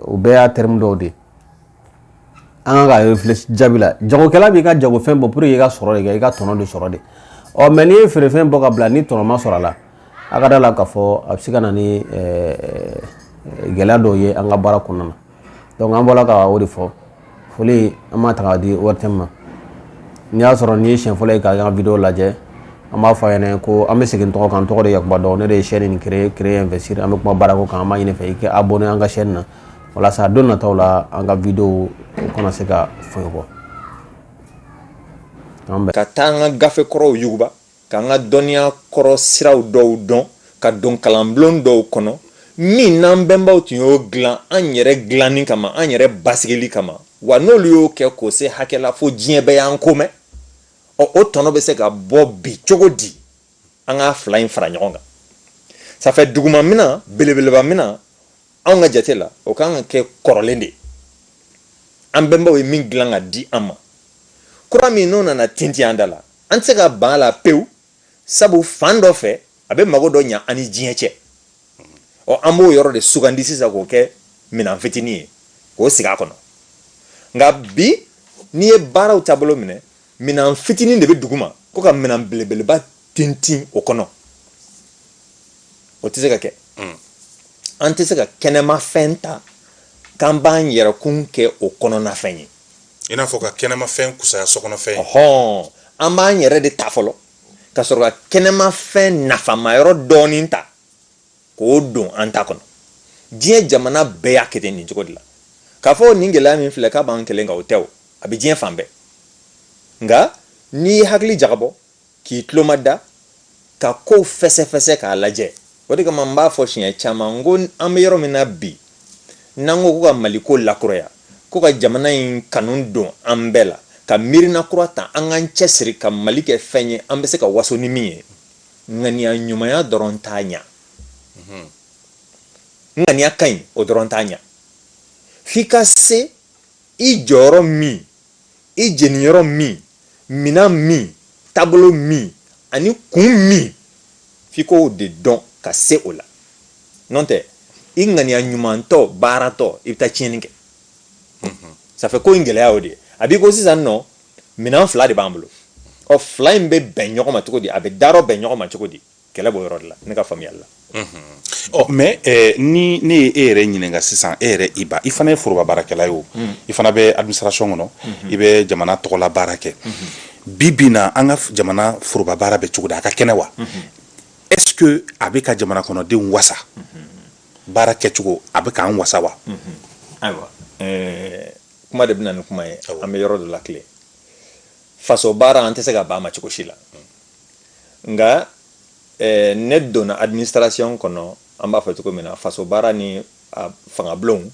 o bɛɛ y'a terme dɔw de ye an kan ka réfléchir jaabi la jagokɛla b'i ka jagofɛn bɔ pour que i ka sɔrɔ de kɛ i ka tɔnɔ de sɔrɔ de ɔ mɛ n'i ye feerefɛn bɔ ka bila ni tɔnɔ ma sɔrɔ a la a ka da a la k'a fɔ a bɛ se ka na ni gɛlɛya dɔw ye an ka baara kɔnɔna na donc an bɔra k'o de fɔ foli an b'a ta k'a di ortm ma n'i y'a sɔrɔ nin ye siɲɛ fɔlɔ ye k'an ka video lajɛ an b'a fɔ a ɲɛna ko an bɛ segin tɔgɔ kan tɔgɔ de yakuba dɔn ne de ye chaîne in créer investir an bɛ kuma baarako kan an b'a ɲini i fɛ i kɛ abonné an ka chaîne na walasa don nataw la an ka videow kana se ka fɔ i kɔ ka taa an ka gafe kɔrɔw yuguba k'an ka dɔnniya kɔrɔ siraw dɔw dɔn ka don kalanbulon dɔw kɔnɔ min n'an bɛnbaw tun y'o dilan an yɛrɛ dilanni kama an yɛrɛ basigili kama wa n'olu y'o kɛ k'o se hakɛ la fo diɲɛ bɛɛ y'an ko mɛn ɔ o tɔnɔ bɛ se ka bɔ bi cogo di an ka fila in fara ɲɔgɔn kan ça fait duguma minan belebeleba minan anw ka jate la o kan ka kɛ kɔrɔlen de an bɛnbaw ye min dilan ka di an ma kura min n'o nana tintin an da la an tɛ se ka ban a la pewu sabu fan dɔ fɛ a bɛ mago dɔ ɲa an ni diɲɛ cɛ ɔ an b'o yɔrɔ de sugandi sisan k'o kɛ minɛn fitinin ye k'o sigi a kɔnɔ nka bi n'i ye baaraw taabolo minɛ minɛn fitinin de bɛ duguma ko ka minɛn belebeleba tintin o kɔnɔ o tɛ se ka kɛ hmm. an tɛ se ka kɛnɛmafɛn ta k'an b'an yɛrɛkun kɛ o kɔnɔnafɛn ye i n'a fɔ ka kɛnɛmafɛn fusaya sokɔnɔfɛn ye an b'an yɛrɛ de ta fɔlɔ ka sɔrɔ ka kɛnɛmafɛn nafama yɔrɔ dɔɔnin ta k'o don an ta kɔnɔ diɲɛ jamana bɛɛ y'a kɛ ten nin cogo de la k'a fɔ nin gɛlɛya min filɛ k'a b'an kelen kan o tɛ o a bɛ diɲɛ fan bɛɛ nka n'i ye hakili jagabɔ k'i tuloma da ka kow fɛsɛfɛsɛ k'a lajɛ o de kama n b'a fɔ siɲɛ caman n ko an bɛ yɔrɔ min na bi n'an ko ko ka mali ko lakuraya ko ka jamana in kanu don an bɛɛ la ka miirina kura ta an k'an cɛ siri ka mali kɛ fɛn ye an bɛ se ka waso ni min ye ŋaniya ɲumanya dɔrɔn t'a ɲa mhm. ŋaniya ka ɲi o dɔrɔn t'a ɲa f'i ka se i jɔyɔrɔ min i jeniyɔrɔ min minan min taabolo min ani kun min f'i k'o de dɔn ka se o la n'o tɛ i ŋaniya ɲumantɔ baaratɔ i bɛ taa tiɲɛni kɛ mhm. ça fait ko in gɛlɛya o de ye a b'i ko sisan nɔ minan fila de b'an bolo ɔ fila in bɛ bɛn ɲɔgɔn ma cogo di a bɛ darɔ bɛn ɲɔgɔn ma cogo di kɛlɛ b'o yɔrɔ de la ne ka faamuyali la ɔ mais ni ne ye e yɛrɛ ɲininka sisan e yɛrɛ iba i fana ye foroba baarakɛla ye o i fana bɛ administration kɔnɔ i bɛ jamana tɔgɔla baara kɛ bi bi na an ka jamana foroba baara bɛ cogo di a ka kɛnɛ wa est ce que a bɛ ka jamana kɔnɔdenw wasa baara kɛcogo a bɛ k'an wasa wa ayiwa kuma de bɛ na ni kuma ye an bɛ yɔrɔ dɔ la tile faso baara an tɛ se ka ban a ma cogo si la nka eh, ne donna administration kɔnɔ an b'a fɔ cogo min na faso baara ni a fangabulonw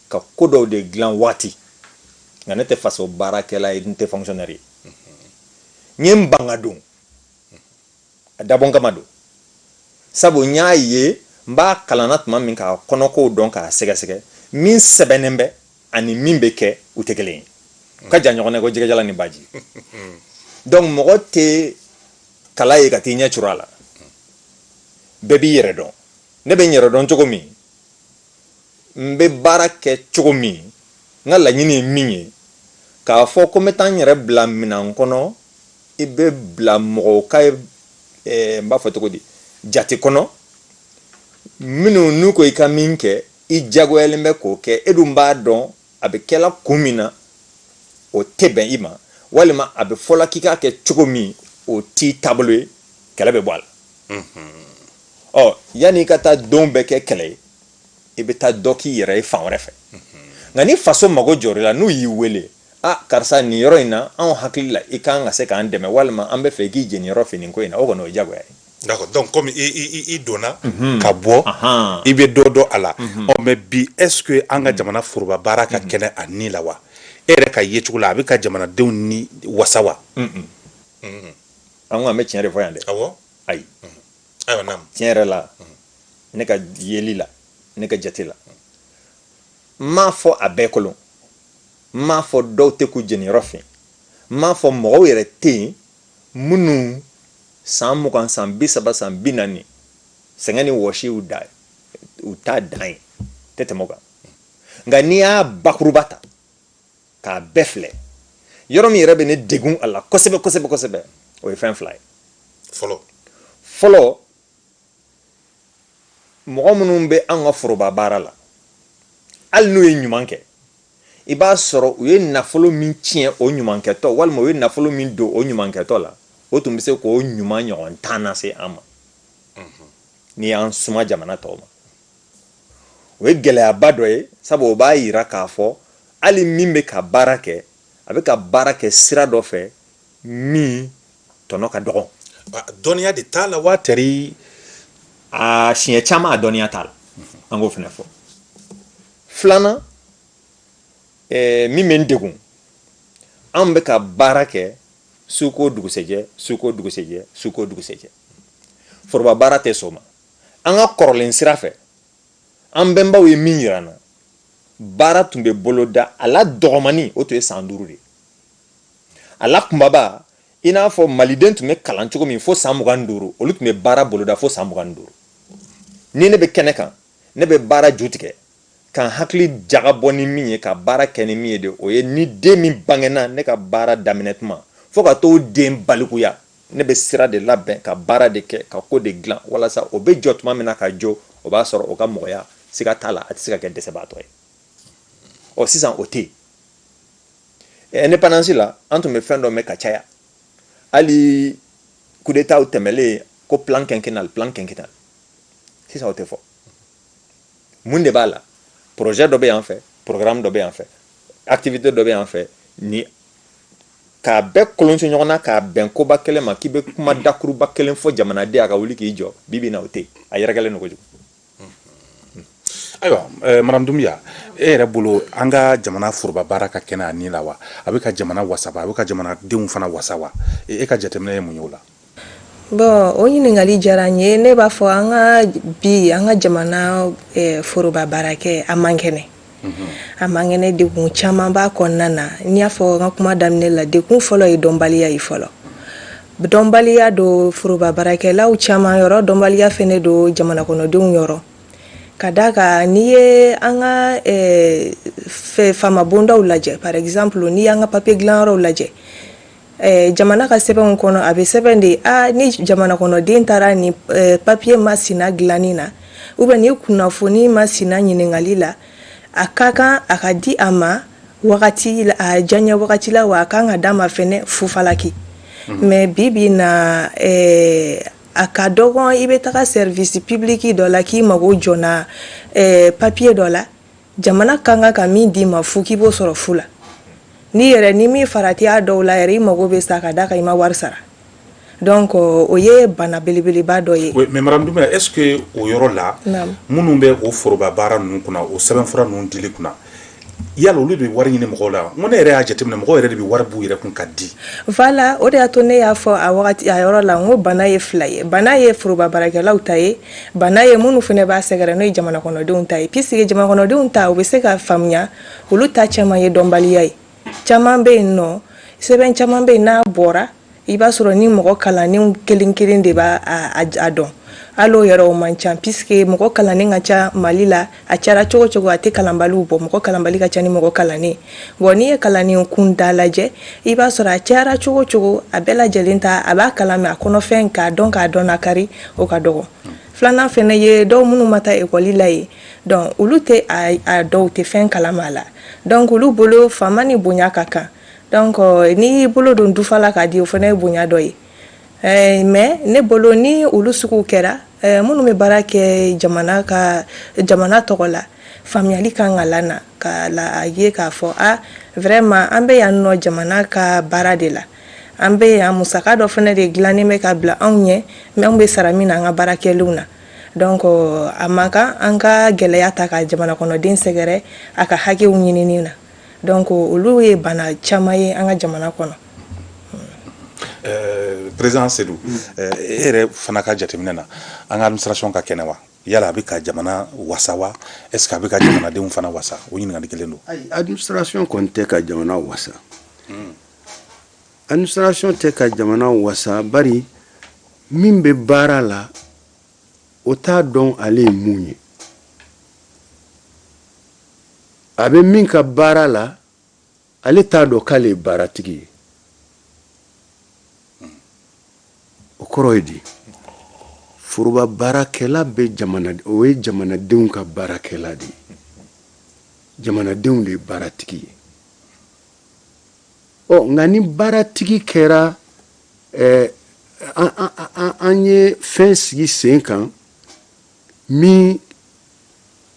ka ko dɔw de dilan waati nka ne tɛ faso baarakɛla ye n tɛ fonctionnaire ye n ye n ban ka don a dabɔnkama don sabu n y'a ye n b'a kalanna tuma min k'a kɔnɔkow dɔn k'a sɛgɛsɛgɛ min sɛbɛnnen bɛ ani min bɛ kɛ u tɛ kelen ye u ka jan ɲɔgɔn na ko jɛgɛjalan ni baji donc mɔgɔ tɛ kala ye ka t'i ɲɛ curu a la bɛɛ b'i yɛrɛ dɔn ne bɛ n yɛrɛ dɔn cogo min n bɛ baara kɛ cogo min n ka laɲini ye min ye k'a fɔ ko n bɛ taa n yɛrɛ bila minan kɔnɔ i bɛ bila mɔgɔw ka eh, n b'a fɔ cogo di jate kɔnɔ minnu n'u ko i ka min kɛ i jagoyalen bɛ k'o kɛ e dun b'a dɔn a bɛ kɛla kun min na o tɛ bɛn i ma walima a bɛ fɔla k'i k'a kɛ cogo min o t'i taabolo ye kɛlɛ bɛ bɔ a la ɔ yanni i ka taa don bɛɛ kɛ kɛlɛ ye i bɛ taa dɔ k'i yɛrɛ ye fan wɛrɛ fɛ nka ni faso mago jɔr'i la n'u y'i wele aa karisa nin yɔrɔ in na anw hakili la i kan ka se k'an dɛmɛ walima an b'a fɛ i k'i jeniyɔrɔ fin ko in na o kɔni o ye jagoya ye D'accord. Donc, comme i, i, i donna mm -hmm. ka bɔ uh -huh. i bɛ dɔ dɔn a la mm -hmm. ɔ mais bi est ce que an ka mhm. jamana foroba baara ka mhm. kɛnɛ a ni la wa e yɛrɛ ka yecogo la a bɛ ka jamanadenw ni wasa wa mhm. an ko an bɛ tiɲɛ de fɔ yan dɛ ayi tiɲɛ yɛrɛ la ne ka yeli la ne ka jate la n m'a fɔ a bɛɛ kolon n m'a fɔ dɔw tɛ k'u jeniyɔrɔ fin n m'a fɔ mɔgɔw yɛrɛ tɛ yen minnu san mugan san bi saba san bi naani sɛgɛn ni wɔsi y'u da u t'a dan ye tɛ tɛmɛ o kan nka n'i y'a bakuruba ta k'a bɛɛ filɛ yɔrɔ min yɛrɛ bɛ ne degun a la kosɛbɛ kosɛbɛ kosɛbɛ o ye fɛn fila ye fɔlɔ fɔlɔ mɔgɔ minnu bɛ an ka foroba baara la hali n'u ye ɲuman kɛ i b'a sɔrɔ u ye nafolo min tiɲɛ o ɲumankɛtɔ walima u ye nafolo min don o ɲumankɛtɔ la o tun bɛ se k'o ɲuman ɲɔgɔn tan na se an ma n'i y'an suma jamana tɔw ma o ye gɛlɛyaba dɔ ye sabu o b'a yira k'a fɔ hali min bɛ ka baara kɛ a bɛ ka baara kɛ sira dɔ fɛ min tɔnɔ ka dɔgɔn dɔnniya de t'a la wa tɛri a siɲɛ caman a dɔnniya t'a la an k'o fana fɔ filanan eh, min bɛ n degun an bɛ ka baara kɛ su ko dugusɛjɛ su ko dugusɛjɛ su ko dugusɛjɛ foroba baara tɛ sɔn o ma an ka kɔrɔlen sira fɛ an bɛnbaw ye min yira an na baara tun bɛ boloda a la dɔgɔmani o tun ye san duuru de ye a la kunbaba i n'a fɔ maliden tun bɛ kalan cogo min fo san mugan duuru olu tun bɛ baara boloda fo san mugan duuru ni ne bɛ kɛnɛ kan ne bɛ baara ju tigɛ k'an hakili jagabɔ ni min ye ka baara kɛ ni min ye de o ye ni den min bangena ne ka baara daminɛ tuma fo ka t'o den balikuya ne bɛ sira de labɛn ka baara de kɛ ka ko de dilan walasa o bɛ jɔ tuma min na ka jɔ o b'a sɔrɔ o ka mɔgɔya siga t'a la a tɛ se ka kɛ dɛsɛbaatɔ ye ɔ sisan o tɛ yen indépendance la an tun bɛ fɛn dɔ mɛn ka caya hali kudetaw tɛmɛlen ko plan quinquennal plan quinquennal sisan o tɛ fɔ mun de b'a la projet dɔ bɛ yan fɛ programme dɔ bɛ yan fɛ activité dɔ bɛ yan fɛ ni k'a bɛɛ kolonso ɲɔgɔn na k'a bɛn koba kelen ma k'i bɛ kuma dakuruba kelen fɔ jamanaden a ka wuli k'i jɔ bi bi na o tɛ yen a yɛrɛkɛlen don kojugu Ayiwa madame Doumbia e yɛrɛ bolo an ka jamana foroba baara ka kɛnɛ a ni la wa a bɛ ka jamana wasa wa a bɛ ka jamanadenw fana wasa wa e ka jateminɛ ye mun ye o la bon o ɲininkali diyara n ye ne b'a fɔ an ka bi an ka jamana foroba baarakɛ a man kɛnɛ a man kɛnɛ degun caman b'a kɔnɔna na n y'a fɔ an ka kuma daminɛ la degun fɔlɔ ye dɔnbaliya ye fɔlɔ dɔnbaliya don foroba baarakɛlaw caman yɔrɔ dɔnbaliya fɛnɛ don jamana kɔnɔdenw yɔrɔ ka d'a kan n'i ye an ka faama bondaw lajɛ par exemple n'i y'an ka papiye dilanyɔrɔw lajɛ jamana ka sɛbɛnw kɔnɔ a bɛ sɛbɛn de ye ni jamana kɔnɔden taara ni papiye masina dilanni na ou bien ni kunnafoni masina ɲininkali la a ka kan a ka di a ma wagati a jan ye wagati la wa a ka kan ka d'a ma fɛnɛ fu falaki mais bi bi na a ka dɔgɔn i bɛ taga service public dɔ la k'i mago jɔna papiye dɔ la jamana ka kan ka min d'i ma fu k'i b'o sɔrɔ fu la n'i yɛrɛ n'i m'i farati a dɔw la yɛrɛ i mago bɛ sa ka d'a kan i ma wari sara donc euh, o ye bana belebeleba dɔ ye mais madame Doumbia est ce que o yɔrɔ la minnu bɛ o foroba baara ninnu kunna o sɛbɛnfura ninnu dili kunna yala olu de bɛ wari ɲini mɔgɔw la n ko ne yɛrɛ y'a jateminɛ mɔgɔw yɛrɛ de bɛ wari b'u yɛrɛ kun ka di voilà o de y'a to ne y'a fɔ a wagati a yɔrɔ la n ko bana ye fila ye bana ye foroba baarakɛlaw ta ye Bana ye minnu fana b'a sɛgɛrɛ n'o ye jamana kɔnɔdenw ta ye puisque jamana kɔnɔdenw ta u bɛ se ka faamuya olu ta caman ye dɔnbaliya ye caman bɛ yen nɔ sɛbɛn caman bɛ yen n'a bɔra i b'a sɔrɔ ni mɔgɔ kalannenw kelen kelen de b'a a dɔn hali o yɛrɛ o man ca puisque mɔgɔ kalannen ka ca Mali la a cayara cogo cogo a tɛ kalanbaliw bɔ mɔgɔ kalanbali ka ca ni mɔgɔ kalannen bon n'i ye kalannen kunda lajɛ i b'a sɔrɔ a cayara cogo cogo a bɛɛ lajɛlen ta a b'a kalan mais a kɔnɔfɛn k'a dɔn k'a dɔn nakari o ka dɔgɔ filanan fana ye dɔw minnu ma taa ekɔli la ye donc olu tɛ a dɔw tɛ fɛn kalama a la donc olu bolo faama ni bonya ka kan donc n'i y'i bolo don dufa la k'a di o fana ye bonya dɔ ye Ɛɛ mais ne bolo ni olu suguw kɛra ɛɛ minnu bɛ baara kɛ jamana ka jamana tɔgɔ la faamuyali kan ka la na ka la a ye k'a fɔ a vraiment an bɛ yan nɔ jamana ka baara de la an bɛ yan musaka dɔ fana de dilannen bɛ ka bila anw ɲɛ mais anw bɛ sara min na an ka baara kɛlenw na donc a man kan an ka gɛlɛya ta ka jamanakɔnɔden sɛgɛrɛ a ka hakɛw ɲinini na donc olu ye bana caman ye an ka jamana kɔnɔ Euh, président Seydou euh, e yɛrɛ fana ka jateminɛ na an ka administration ka kɛnɛ wa yala a bɛ ka jamana wasa wa est ce que a bɛ ka jamanadenw fana wasa o ɲininkali kelen don ayi administration kɔni tɛ ka jamana wasa administration tɛ ka jamana wasa bari min bɛ baara la o t'a dɔn ale ye mun ye a bɛ min ka baara la ale t'a dɔn k'ale ye baaratigi ye o kɔrɔ ye di foroba baarakɛla bɛ jamana o ye jamanadenw ka baarakɛla de ye jamanadenw de ye baaratigi ye ɔ nka ni baaratigi kɛra ɛɛ an ye fɛn sigi sen kan min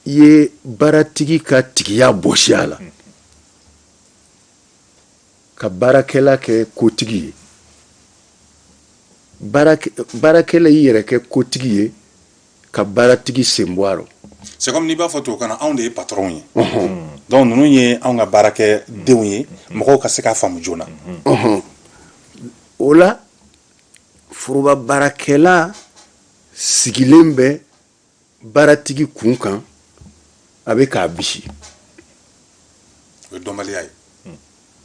ye baaratigi ka tigiya bɔsi a la ka baarakɛla kɛ kotigi ye baarakɛla y'i yɛrɛ kɛ kotigi ye ka baaratigi sen bɔ a rɔ c'est comme n'i b'a fɔ tubabukan na anw de ye patron ye donc ninnu ye anw ka baarakɛdenw ye mɔgɔw ka se k'a faamu joona o la foroba baarakɛla sigilen bɛ baaratigi kun kan a bɛ k'a bisi o ye dɔnbaliya ye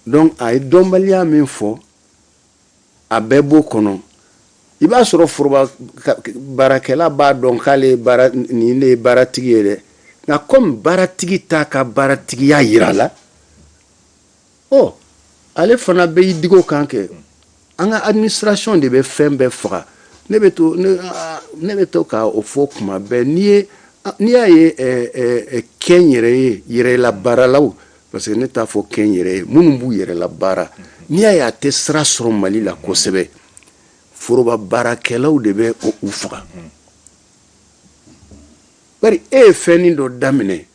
donc a ye dɔnbaliya min fɔ a bɛɛ b'o kɔnɔ i b'a sɔrɔ foroba baarakɛla b'a dɔn k'ale nin de ye baaratigi ye dɛ nka kɔmi baaratigi t'a ka baaratigiya yira la ɔ ale fana bɛ i digi o kan kɛ an ka administration de bɛ fɛn bɛɛ faga ne bɛ to ne bɛ to ka o fɔ kuma bɛɛ n'i ye n'i y'a ye kɛnyɛrɛye yɛrɛla baaralaw parce que ne t'a fɔ kɛnyɛrɛye minnu b'u yɛrɛ la baara n'i y'a ye a tɛ sira sɔrɔ mali la kosɛbɛ foroba baarakɛlaw de bɛ u faga bari e ye fɛnnin dɔ daminɛ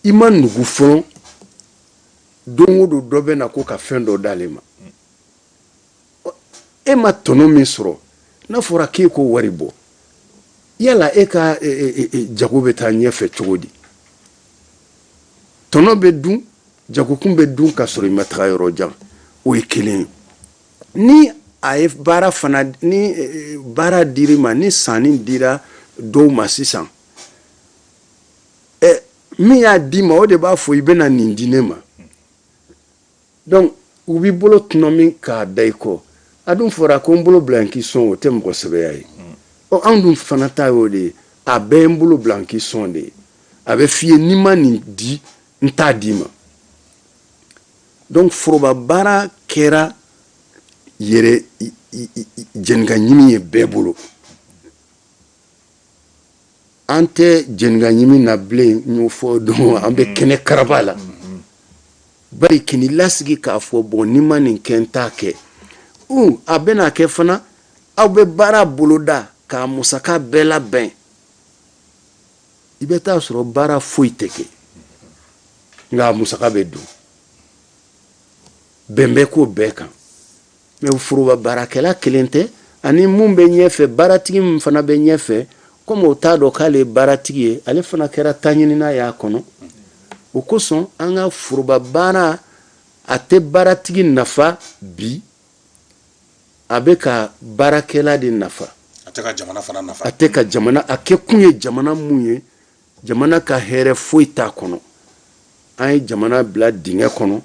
i ma nugu fɔlɔ don o don dɔ bɛ na ko ka fɛn dɔ d'ale ma e ma tɔnɔ min sɔrɔ n'a fɔra k'e k'o wari bɔ yala e ka e, e, e, jago bɛ taa ɲɛfɛ cogo di tɔnɔ bɛ dun jagokun bɛ dun ka sɔrɔ i ma taga yɔrɔ jan o ye kelen ye ni a ye baara fana ni baara dir'i ma ni sanni dira dɔw ma sisan ɛ min y'a d'i ma o de b'a fɔ i bɛna nin di ne ma Donc u b'i bolo tɔnɔmi k'a da i kɔ a dun fɔra ko n bolo bila n k'i sɔn o tɛ mɔgɔ sɛbɛya ye ɔ anw dun fana ta ye o de ye a bɛɛ ye n bolo bila n k'i sɔn de ye a bɛ f'i ye n'i ma nin di n t'a d'i ma donc foroba baara kɛra yɛrɛ jeninkaɲimi ye bɛɛ bolo an tɛ jeninkaɲimi na bilen n y'o fɔ don an bɛ kɛnɛkaraba la bari k'i lasigi k'a fɔ bon n'i ma nin kɛ n t'a kɛ a bɛna kɛ fana aw bɛ baara boloda k'a musaka bɛɛ labɛn i bɛ t'a sɔrɔ baara foyi tɛ kɛ nka a musaka bɛ dun bɛn bɛ k'o bɛɛ kan Mais foroba baarakɛla kelen tɛ ani minnu bɛ ɲɛfɛ baaratigi min fana bɛ ɲɛfɛ kɔmi o t'a dɔn k'ale ye baaratigi ye ale fana kɛra taɲinina y'a kɔnɔ o kosɔn an ka foroba baara a tɛ baaratigi nafa bi a bɛ ka baarakɛla de nafa a tɛ ka jamana a kɛ kun ye jamana min ye jamana ka hɛrɛ foyi t'a kɔnɔ an ye jamana bila dingɛ kɔnɔ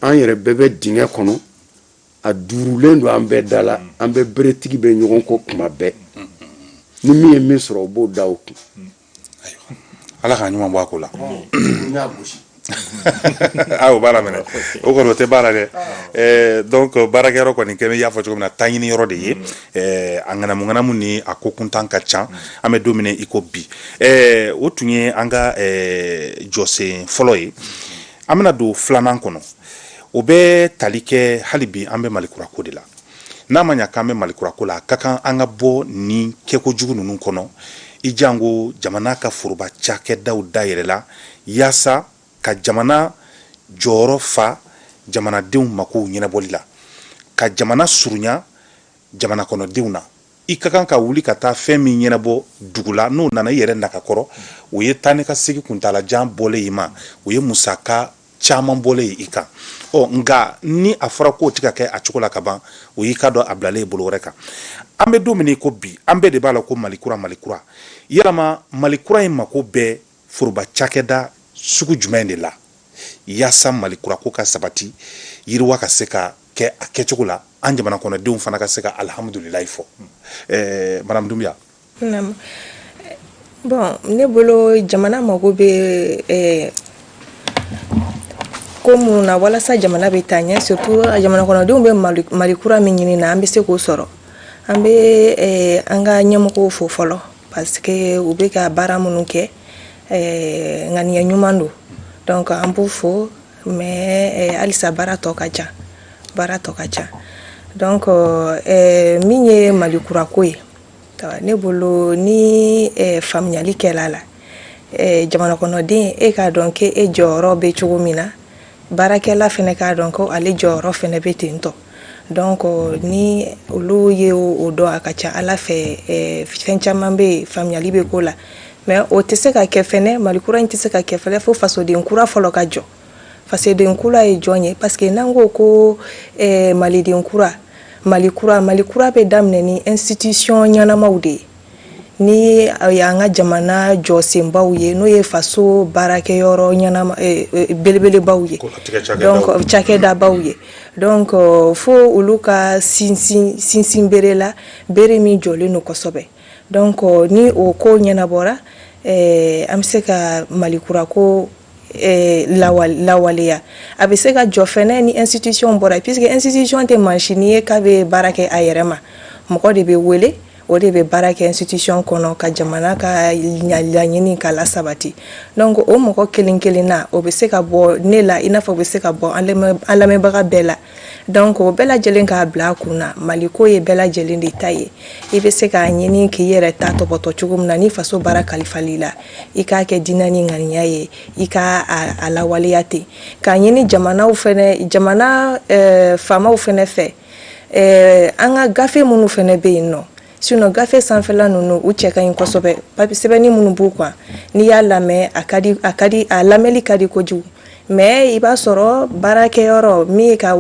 an yɛrɛ bɛɛ bɛ dingɛ kɔnɔ a duurulen don an bɛɛ da la an bɛɛ beretigi bɛ ɲɔgɔn kɔ kuma bɛɛ ni min ye min sɔrɔ o b'o da o kun ala ka ɲuman bɔ a ko la aw ah, baara minɛ o kɔni o tɛ baara dɛ eh, donc baarakɛyɔrɔ kɔni kɛ y'a fɔ cogo min na taɲiniyɔrɔ de ye mm. eh, a ŋanamuŋanamu ni a ko kuntan ka ca mm. an bɛ don min i ko bi eh, o tun ye an ka jɔsen fɔlɔ ye mm. an bɛna don filanan kɔnɔ o bɛ tali kɛ hali bi an bɛ malikurako de la n'a ma ɲa k'an bɛ malikurako la a ka kan an ka bɔ nin kɛko jugu ninnu kɔnɔ i janko jamana ka foroba cakɛdaw dayɛlɛ la Yaasa ka jamana jɔyɔrɔ fa jamanadenw makow ɲɛnabɔli la, ka jamana surunya jamana kɔnɔdenw na, i ka kan ka wuli ka taa fɛn min ɲɛnabɔ dugu la, n'o nana i yɛrɛ naka kɔrɔ, o ye taa ni ka segin kuntaala jan bɔlen ye i ma, o ye musaka caman bɔlen ye i kan. Ɔ nka ni a fɔra k'o tɛ ka kɛ a cogo la ka ban, o y'i k'a dɔn a bilalen ye bolo wɛrɛ kan. An bɛ don min i ko bi, an bɛɛ de b'a la ko Mali kura, Mali kura. Yalama Mali kura in mako bɛ foroba cakɛda sugu jumɛn de la yaasa mali kura ko ka sabati yiriwa ka se ka kɛ a kɛcogo la an jamana kɔnɔdenw fana ka se ka alihamudulilayi fɔ eh, madame Doumbia bon ne bolo jamana mago bɛ eh, ko minnu na walasa jamana bɛ taa ɲɛ surtout jamana kɔnɔdenw bɛ mali kura min ɲini na an bɛ se k'o sɔrɔ an bɛ eh, an ka ɲɛmɔgɔw fo fɔlɔ parce que u bɛ ka baara minnu kɛ eh, ŋaniya ɲuman don donc an b'u fo mais eh, halisa baara tɔ ka ca baara tɔ ka ca donc eh, min ye mali kura ko ye ah, ne bolo ni eh, faamuyali kɛla la eh, jamana kɔnɔden e k'a dɔn k'e jɔyɔrɔ bɛ cogo min na baarakɛla fɛnɛ k'a dɔn ko ale jɔyɔrɔ fɛnɛ bɛ ten tɔ donc ni olu ye o dɔn a ka ca ala fɛ fɛn caman bɛ yen faamuyali bɛ k'o la mais o tɛ se ka kɛ fɛnɛ mali kura in tɛ se ka kɛ fɛnɛ fo fasoden kura fɔlɔ ka jɔ fasoden kura ye jɔn ye parce que n'an ko ko maliden kura mali kura mali kura bɛ daminɛ ni institution ɲɛnamaw de ye ni y'an ka jamana jɔsenbaw ye n'o ye faso baarakɛyɔrɔ ɲɛnama belebelebaw ye cakɛdabaw ye donc fo olu ka sinsin sinsinbere la bere min jɔlen don kosɛbɛ donc ni o ko ɲɛnabɔra an bɛ se ka mali kura ko lawaleya a bɛ se ka jɔ fɛnɛ ni institution bɔra puisque institution tɛ masini ye k'a bɛ baara kɛ a yɛrɛ ma mɔgɔ de bɛ wele o de bɛ baara kɛ institution kɔnɔ ka jamana ka laɲini ka lasabati donc o mɔgɔ kelen kelen na o bɛ se ka bɔ ne la i n'a fɔ bɛ se ka bɔ an lamɛnbaga bɛɛ la donc o bɛɛ lajɛlen k'a bila a kun na mali ko ye bɛɛ lajɛlen de ta ye i bɛ se k'a ɲini k'i yɛrɛ ta tɔpɔtɔ cogo min na ni faso baara kalifal'i la i k'a kɛ diinɛ ni ŋaniya ye i k'a lawaleya ten k'a ɲini jamana fɛnɛ jamana faamaw fɛnɛ fɛ an ka gafe minnu fɛnɛ bɛ yen nɔ Sinon gafe sanfɛla ninnu u cɛ ka ɲi kosɛbɛ papi sɛbɛnni minnu b'u kan n'i y'a lamɛn a lamɛnni ka di kojugu mais i b'a sɔrɔ baarakɛyɔrɔ min ye ka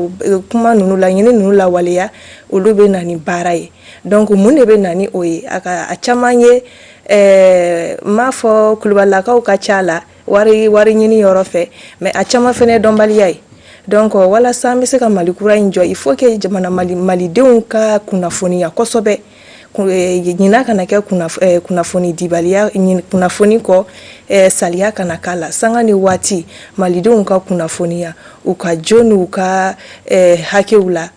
kuma ninnu laɲini ninnu lawaleya olu bɛ na ni baara ye donc mun de bɛ na ni o ye a ka a caman ye ɛɛ n m'a fɔ kulubalilakaw ka ca a la wari wari ɲini yɔrɔ fɛ mais a caman fɛnɛ dɔnbaliya ye donc walasa an bɛ se ka mali kura in jɔ il faut que jamana mali malidenw ka kunnafoniya kosɛbɛ eh, ɲina kana kɛ eh, kunnafoni dibaliya kunnafoni ko eh, saliya kana k'a la sanga ni waati malidenw ka kunnafoniya u ka jo n'u ka hakɛw la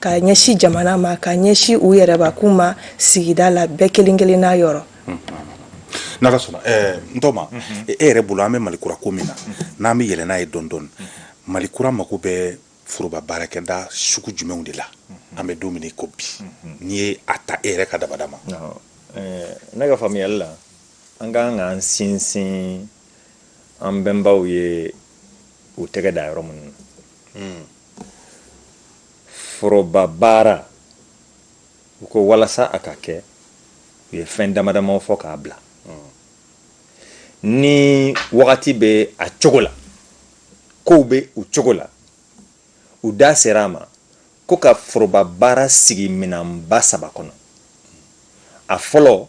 ka ɲɛsi jamana ma ka ɲɛsi u yɛrɛbakun ma sigida la bɛɛ kelen kelen n'a yɔrɔ n'ala sɔnna n tɔma e yɛrɛ bolo an bɛ mali kura ko min na n'an bɛ yɛlɛ n'a ye dɔɔni dɔɔni mali kura mako bɛ foroba baarakɛda sugu jumɛnw de la an bɛ don min ko bi n'i ye a ta e yɛrɛ ka dabada ma ne ka faamuyali la an ka kan k'an sinsin an bɛnbaw ye u tɛgɛ da yɔrɔ minnu na foroba baara u ko walasa a ka kɛ u ye fɛn damadamaw fɔ k'a bila ni wagati bɛ a cogo la kow bɛ u cogo la u da sera a ma ko ka foroba baara sigi minɛnba saba kɔnɔ a fɔlɔ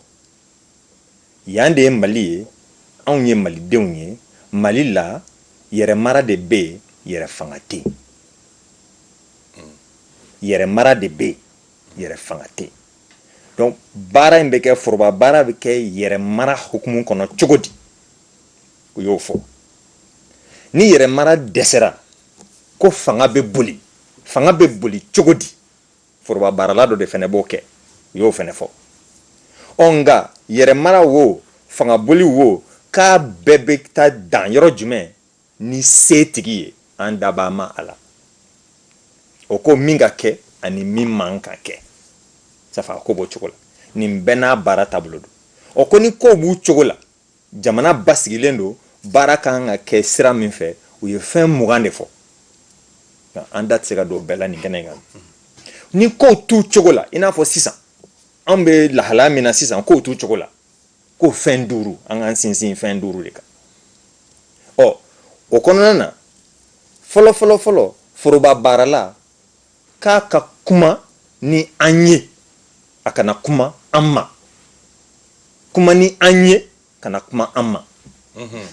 yan de ye mali ye anw ye malidenw ye mali la yɛrɛmara de bɛ yen yɛrɛ fanga tɛ yen yɛrɛ mara de bɛ yen yɛrɛ fanga tɛ yen donc baara in bɛ kɛ foroba baara bɛ kɛ yɛrɛ mara hukumu kɔnɔ cogo di u y'o fɔ ni yɛrɛ mara dɛsɛra ko fanga bɛ boli fanga bɛ boli cogo di foroba baarala dɔ de fɛnɛ b'o kɛ u y'o fɛnɛ fɔ ɔ nka yɛrɛ mara wo fanga boli wo k'a bɛɛ bɛ taa dan yɔrɔ jumɛn Ni se tigi ye, an dabaa Ma Ala. O ko min ka kɛ ani min man ka kɛ. Safa, ko b'o cogo la. Nin bɛɛ n'a baara taabolo don. O ko ni kow b'u cogo la, jamana basigilen don, baara ka kan ka kɛ sira min fɛ, u ye fɛn mugan de fɔ. Nka an da tɛ se ka don o bɛɛ la nin kɛnɛ in kan bi. Ni kow t'u cogo la, i n'a fɔ sisan, anw bɛ lahalaya min na sisan, kow t'u cogo la. ko fɛn duuru an k'an sinsin fɛn duuru de kan ɔ o kɔnɔna na fɔlɔ fɔlɔ fɔlɔ foroba baarala k'a ka kuma ni an ye a kana kuma an ma kuma ni an ye kana kuma an ma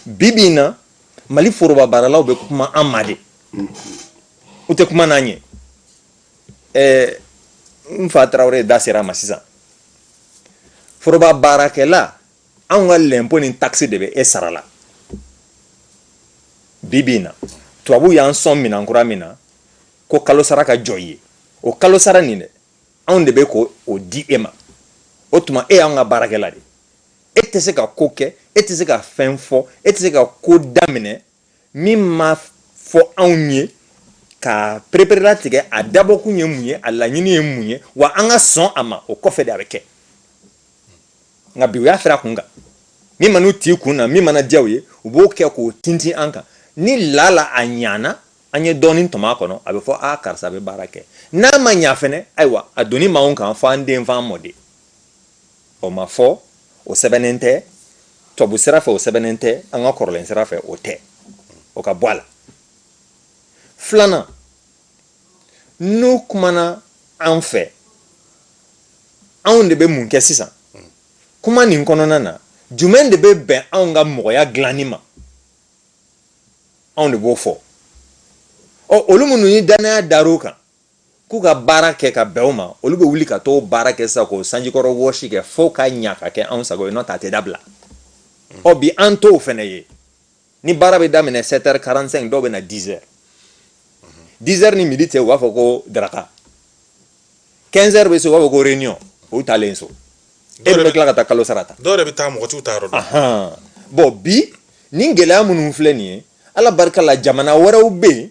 bi bi in na mali foroba baaralaw bɛ kuma an ma de u tɛ kuma n'an ye n fa tarawele da sera ma sisan foroba baarakɛla anw ka lɛnpo ni takisi de bɛ e sara la bi bi in na tubabu y'an sɔn minan kura min na ko kalo sara ka jɔ i ye o kalo sara nin dɛ anw de bɛ k'o di e ma o tuma e y'an ka baarakɛla de e tɛ se ka ko kɛ e tɛ se ka fɛn fɔ e tɛ se ka ko daminɛ min ma fɔ anw ye ka pereperelatigɛ a dabɔkun ye mun ye a laɲini ye mun ye wa an ka sɔn a ma o kɔfɛ de a bɛ kɛ nka bi u y'a firi a kun kan min man'u t'i kun na min mana diya u ye u b'o kɛ k'o tintin an kan ni lala a ɲana an ye dɔɔnin tɔmɔ a kɔnɔ a bɛ fɔ a karisa bɛ baara kɛ n'a ma ɲa fɛnɛ ayiwa a doni b'anw kan fo an den fo an mɔden O ma fɔ o sɛbɛnnen tɛ tubabu sira fɛ o sɛbɛnnen tɛ an ka kɔrɔlen sira fɛ o tɛ o ka bɔ a la filanan n'u kumana an fɛ anw de bɛ mun kɛ sisan kuma nin kɔnɔna na jumɛn de bɛ bɛn anw ka mɔgɔya dilanni ma anw de b'o fɔ ɔ olu minnu ni dannaya dar'u kan k'u ka baara kɛ ka bɛn o ma olu bɛ wuli ka t'o baara kɛ sisan k'o sanjikɔrɔ wɔsi kɛ fo ka ɲa ka kɛ anw sago ye n'o tɛ a tɛ dabila ɔ bi an t'o fɛnɛ ye ni baara bɛ daminɛ 7 heures 45 dɔw bɛ na 10 heures 10 heures ni midi cɛ u b'a fɔ ko daraka 15 heures bɛ se u b'a fɔ ko réunion o taalen so e bɛ tila ka taa kalo sara ta dɔw yɛrɛ bɛ taa mɔgɔ t'u taayɔrɔ dɔn bon bi nin gɛlɛya minnu filɛ nin ye ala barika la jamana wɛrɛw bɛ yen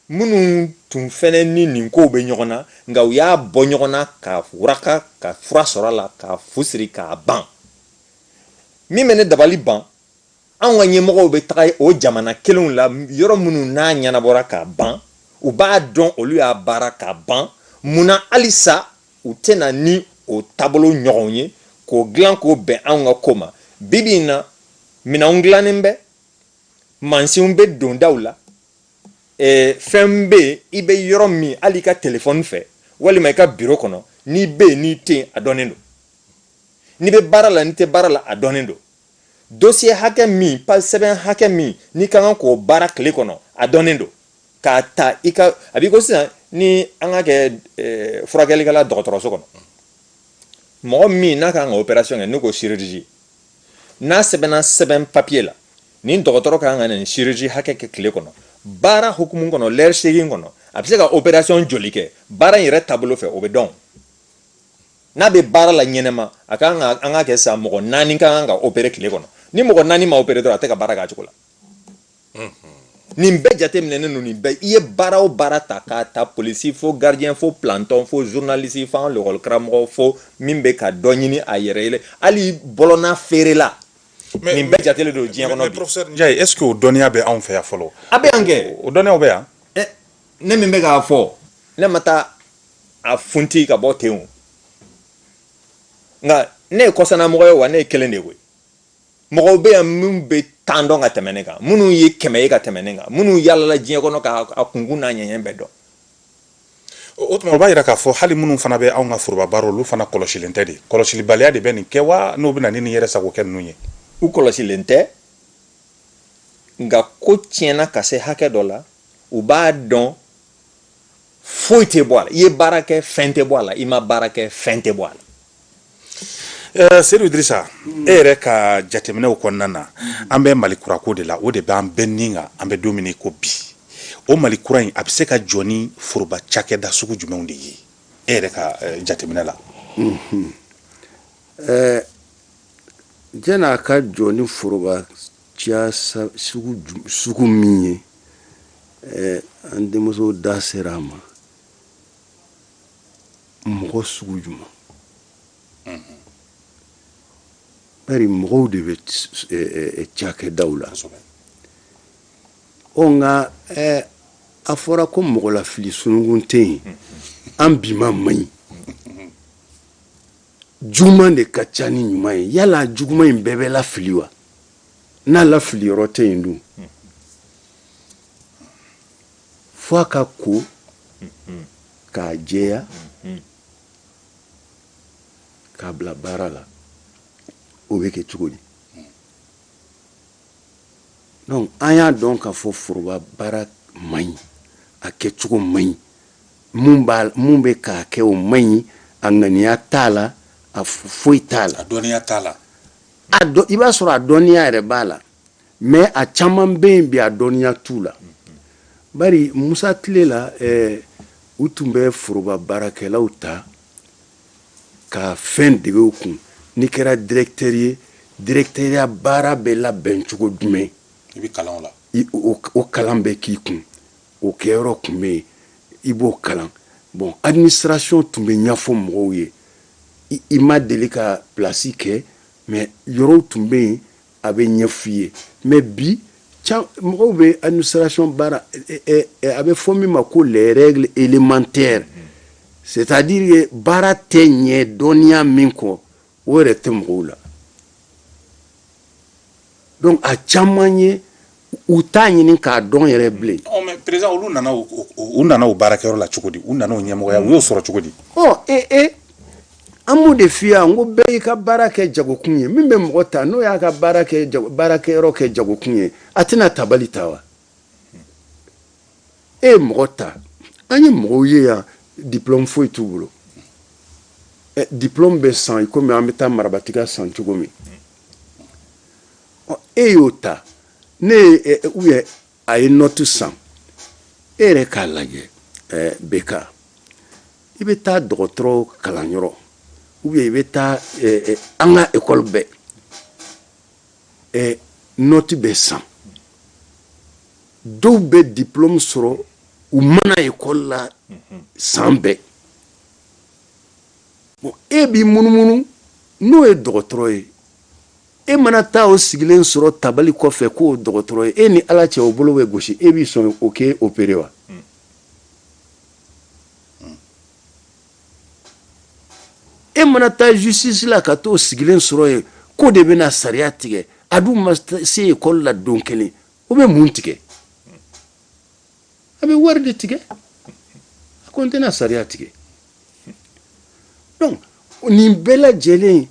minnu tun fɛnɛ ni nin kow bɛ ɲɔgɔn na nka u y'a bɔ ɲɔgɔn na ka waraka ka fura sɔrɔ a la ka fu siri k'a ban min bɛ ne dabali ban anw ka ɲɛmɔgɔw bɛ taga o jamana kelenw la yɔrɔ minnu n'a ɲɛnabɔra k'a ban u b'a dɔn olu y'a baara k'a ban mun na halisa u tɛ na ni o taabolo ɲɔgɔn ye k'o dilan k'o bɛn anw ka ko ma bibi in na minɛnw dilannen bɛ mansinw bɛ dondaw la Ee fɛn bɛ yen i bɛ yɔrɔ min hali i ka telefɔni fɛ walima i ka biro kɔnɔ n'i bɛ yen n'i tɛ yen a dɔnnen don n'i bɛ baara la n'i tɛ baara la a dɔnnen don dossier hakɛ min pa sɛbɛn hakɛ min n'i ka kan k'o baara tile kɔnɔ a dɔnnen don k'a ta i ka a b'i ko sisan ni an ka kɛ furakɛlikɛla dɔgɔtɔrɔso kɔnɔ mɔgɔ min n'a ka kan ka opération kɛ n'o ko chirurgie n'a sɛbɛnna sɛbɛn papiye la nin dɔgɔtɔrɔ ka kan ka nin chirurgie hakɛ kɛ tile kɔnɔ baara hukumu kɔnɔ lɛri segin kɔnɔ a bɛ se ka operasiyɔn joli kɛ baara in yɛrɛ taabolo fɛ o bɛ dɔn n'a bɛ baara la ɲɛnɛma a ka kan ka an k'a kɛ sa mɔgɔ naani ka kan ka opere tile kɔnɔ ni mɔgɔ naani ma opere dɔrɔn a tɛ ka baara k'a cogo la nin bɛɛ jateminɛnen don nin bɛɛ i ye baara o baara ta k'a ta polisi fo gardien fo planton fo journaliste fo an lakɔlikaramɔgɔ fo min bɛ ka dɔ ɲini a yɛrɛ ye hali bɔlɔnna feerela Mais- nin bɛɛ jatelen don diɲɛ Mais- kɔnɔ mais bi professeur Ndiaye, est-ce que o dɔnniya bɛ anw fɛ yan fɔlɔ a bɛ yan kɛ o dɔnniyaw bɛ yan ɛ ne min bɛ k'a fɔ ne ma taa a funti ka bɔ ten o nka ne ye kɔsanamɔgɔ ye wa ne ye kelen de ye koyi mɔgɔw bɛ yan minnu bɛ tan dɔn ka tɛmɛ ne kan minnu ye kɛmɛ ye ka tɛmɛ ne kan minnu yaalala diɲɛ kɔnɔ k'a kunkun n'a ɲɛɲɛ bɛɛ dɔn o tuma o b'a yira k'a fɔ hali minnu fana bɛ anw ka foroba baara olu fana kɔlɔsilen tɛ de kɔlɔsilibaliya de bɛ nin kɛ wa n'o bɛ na ni nin yɛrɛsagokɛ ninnu ye u kɔlɔsilen tɛ nka ko tiɲɛna ka se hakɛ dɔ la u b'a dɔn foyi tɛ bɔ a la i ye baara kɛ fɛn tɛ bɔ a la i ma baara kɛ fɛn tɛ bɔ a la Ɛɛ seyidu idrisa e yɛrɛ ka jateminɛw kɔnɔna na an bɛ mali kura ko de la o de b'an bɛɛ ni kan an bɛ don min ko bi o mali kura in a bɛ se ka jɔ ni foroba cakɛda sugu jumɛnw de ye e yɛrɛ ka jateminɛ la ɛɛ j a ka jɔ ni foroba sugu min ye an denmuso da sera a ma mɔgɔ sugu jumɛn bari mɔgɔw de bɛ cakɛdaw la ɔ nka a fɔra ko mɔgɔlafili sununkun tɛ yen an bi maa man ɲi juguman de ka ca ni ɲuman ye yala juguman in bɛɛ bɛ lafili wa n'a lafiliyɔrɔ tɛ yen dun fo a ka ko k'a jɛya k'a bila baara la o bɛ kɛ cogo di donc an y'a dɔn k'a fɔ foroba baara man ɲi a kɛcogo man ɲi mun b'a mun bɛ k'a kɛ o man ɲi a ŋaniya t'a la a foyi t'a la a dɔnniya t'a la a dɔn i b'a sɔrɔ a dɔnniya yɛrɛ b'a la Mais a caman bɛ yen bi a dɔnniya t'u la bari musa tile la u tun bɛ foroba baarakɛlaw ta ka fɛn dege u kun n'i kɛra dirɛkitɛri ye dirɛkitɛriya baara bɛ labɛn cogo jumɛn i bɛ kalan o la o kalan bɛ k'i kun o kɛyɔrɔ tun bɛ yen i b'o kalan bon administration tun bɛ ɲɛfɔ mɔgɔw ye i ma deli ka plasi kɛ mais yɔrɔw tun bɛ yen a bɛ ɲɛ f'i ye mais bi mɔgɔw bɛ administration baara a bɛ fɔ min ma ko les règles élémentaires c'est-à-dire que baara tɛ ɲɛ dɔnniya min kɔ o yɛrɛ tɛ mɔgɔw la donc a caman ye u t'a ɲini k'a dɔn yɛrɛ bilen président olu nana u nana u baarakɛyɔrɔ la cogo di u nana ɲɛmɔgɔya u y'o sɔrɔ cogo di ee e an b'o de f'i ye n ko bɛɛ y'i ka baara kɛ jagokun ye min bɛ mɔgɔ ta n'o y'a ka baara baarakɛyɔrɔ kɛ jagokun ye a tɛna tabali ta wa e ye mɔgɔ ta an ye mɔgɔw ye yan diplɔmu foyi t'u bolo diplɔmu bɛ san i kɔmi an bɛ taa marabatiga san cogo min e y'o ta ne ye u ye a ye nɔti san e yɛrɛ k'a lajɛ bɛka i bɛ taa dɔgɔtɔrɔ kalanyɔrɔ o i bɛ taa an ka ekɔli bɛɛ nɔti bɛ san dɔw bɛ diplɔmu sɔrɔ u ma na ekɔli la san bɛɛ e b'i munumunu n'o ye dɔgɔtɔrɔ ye e mana taa o sigilen sɔrɔ tabali kɔfɛ k'o dɔgɔtɔrɔ ye e ni ala cɛ o bolo bɛ gosi e b'i sɔn o k'e opere wa e mana taa justice la ka t'o sigilen sɔrɔ yen k'o de bɛna sariya tigɛ a dun ma se ekɔli la don kelen o bɛ mun tigɛ a bɛ wari de tigɛ a ko n tɛna sariya tigɛ donc nin bɛɛ lajɛlen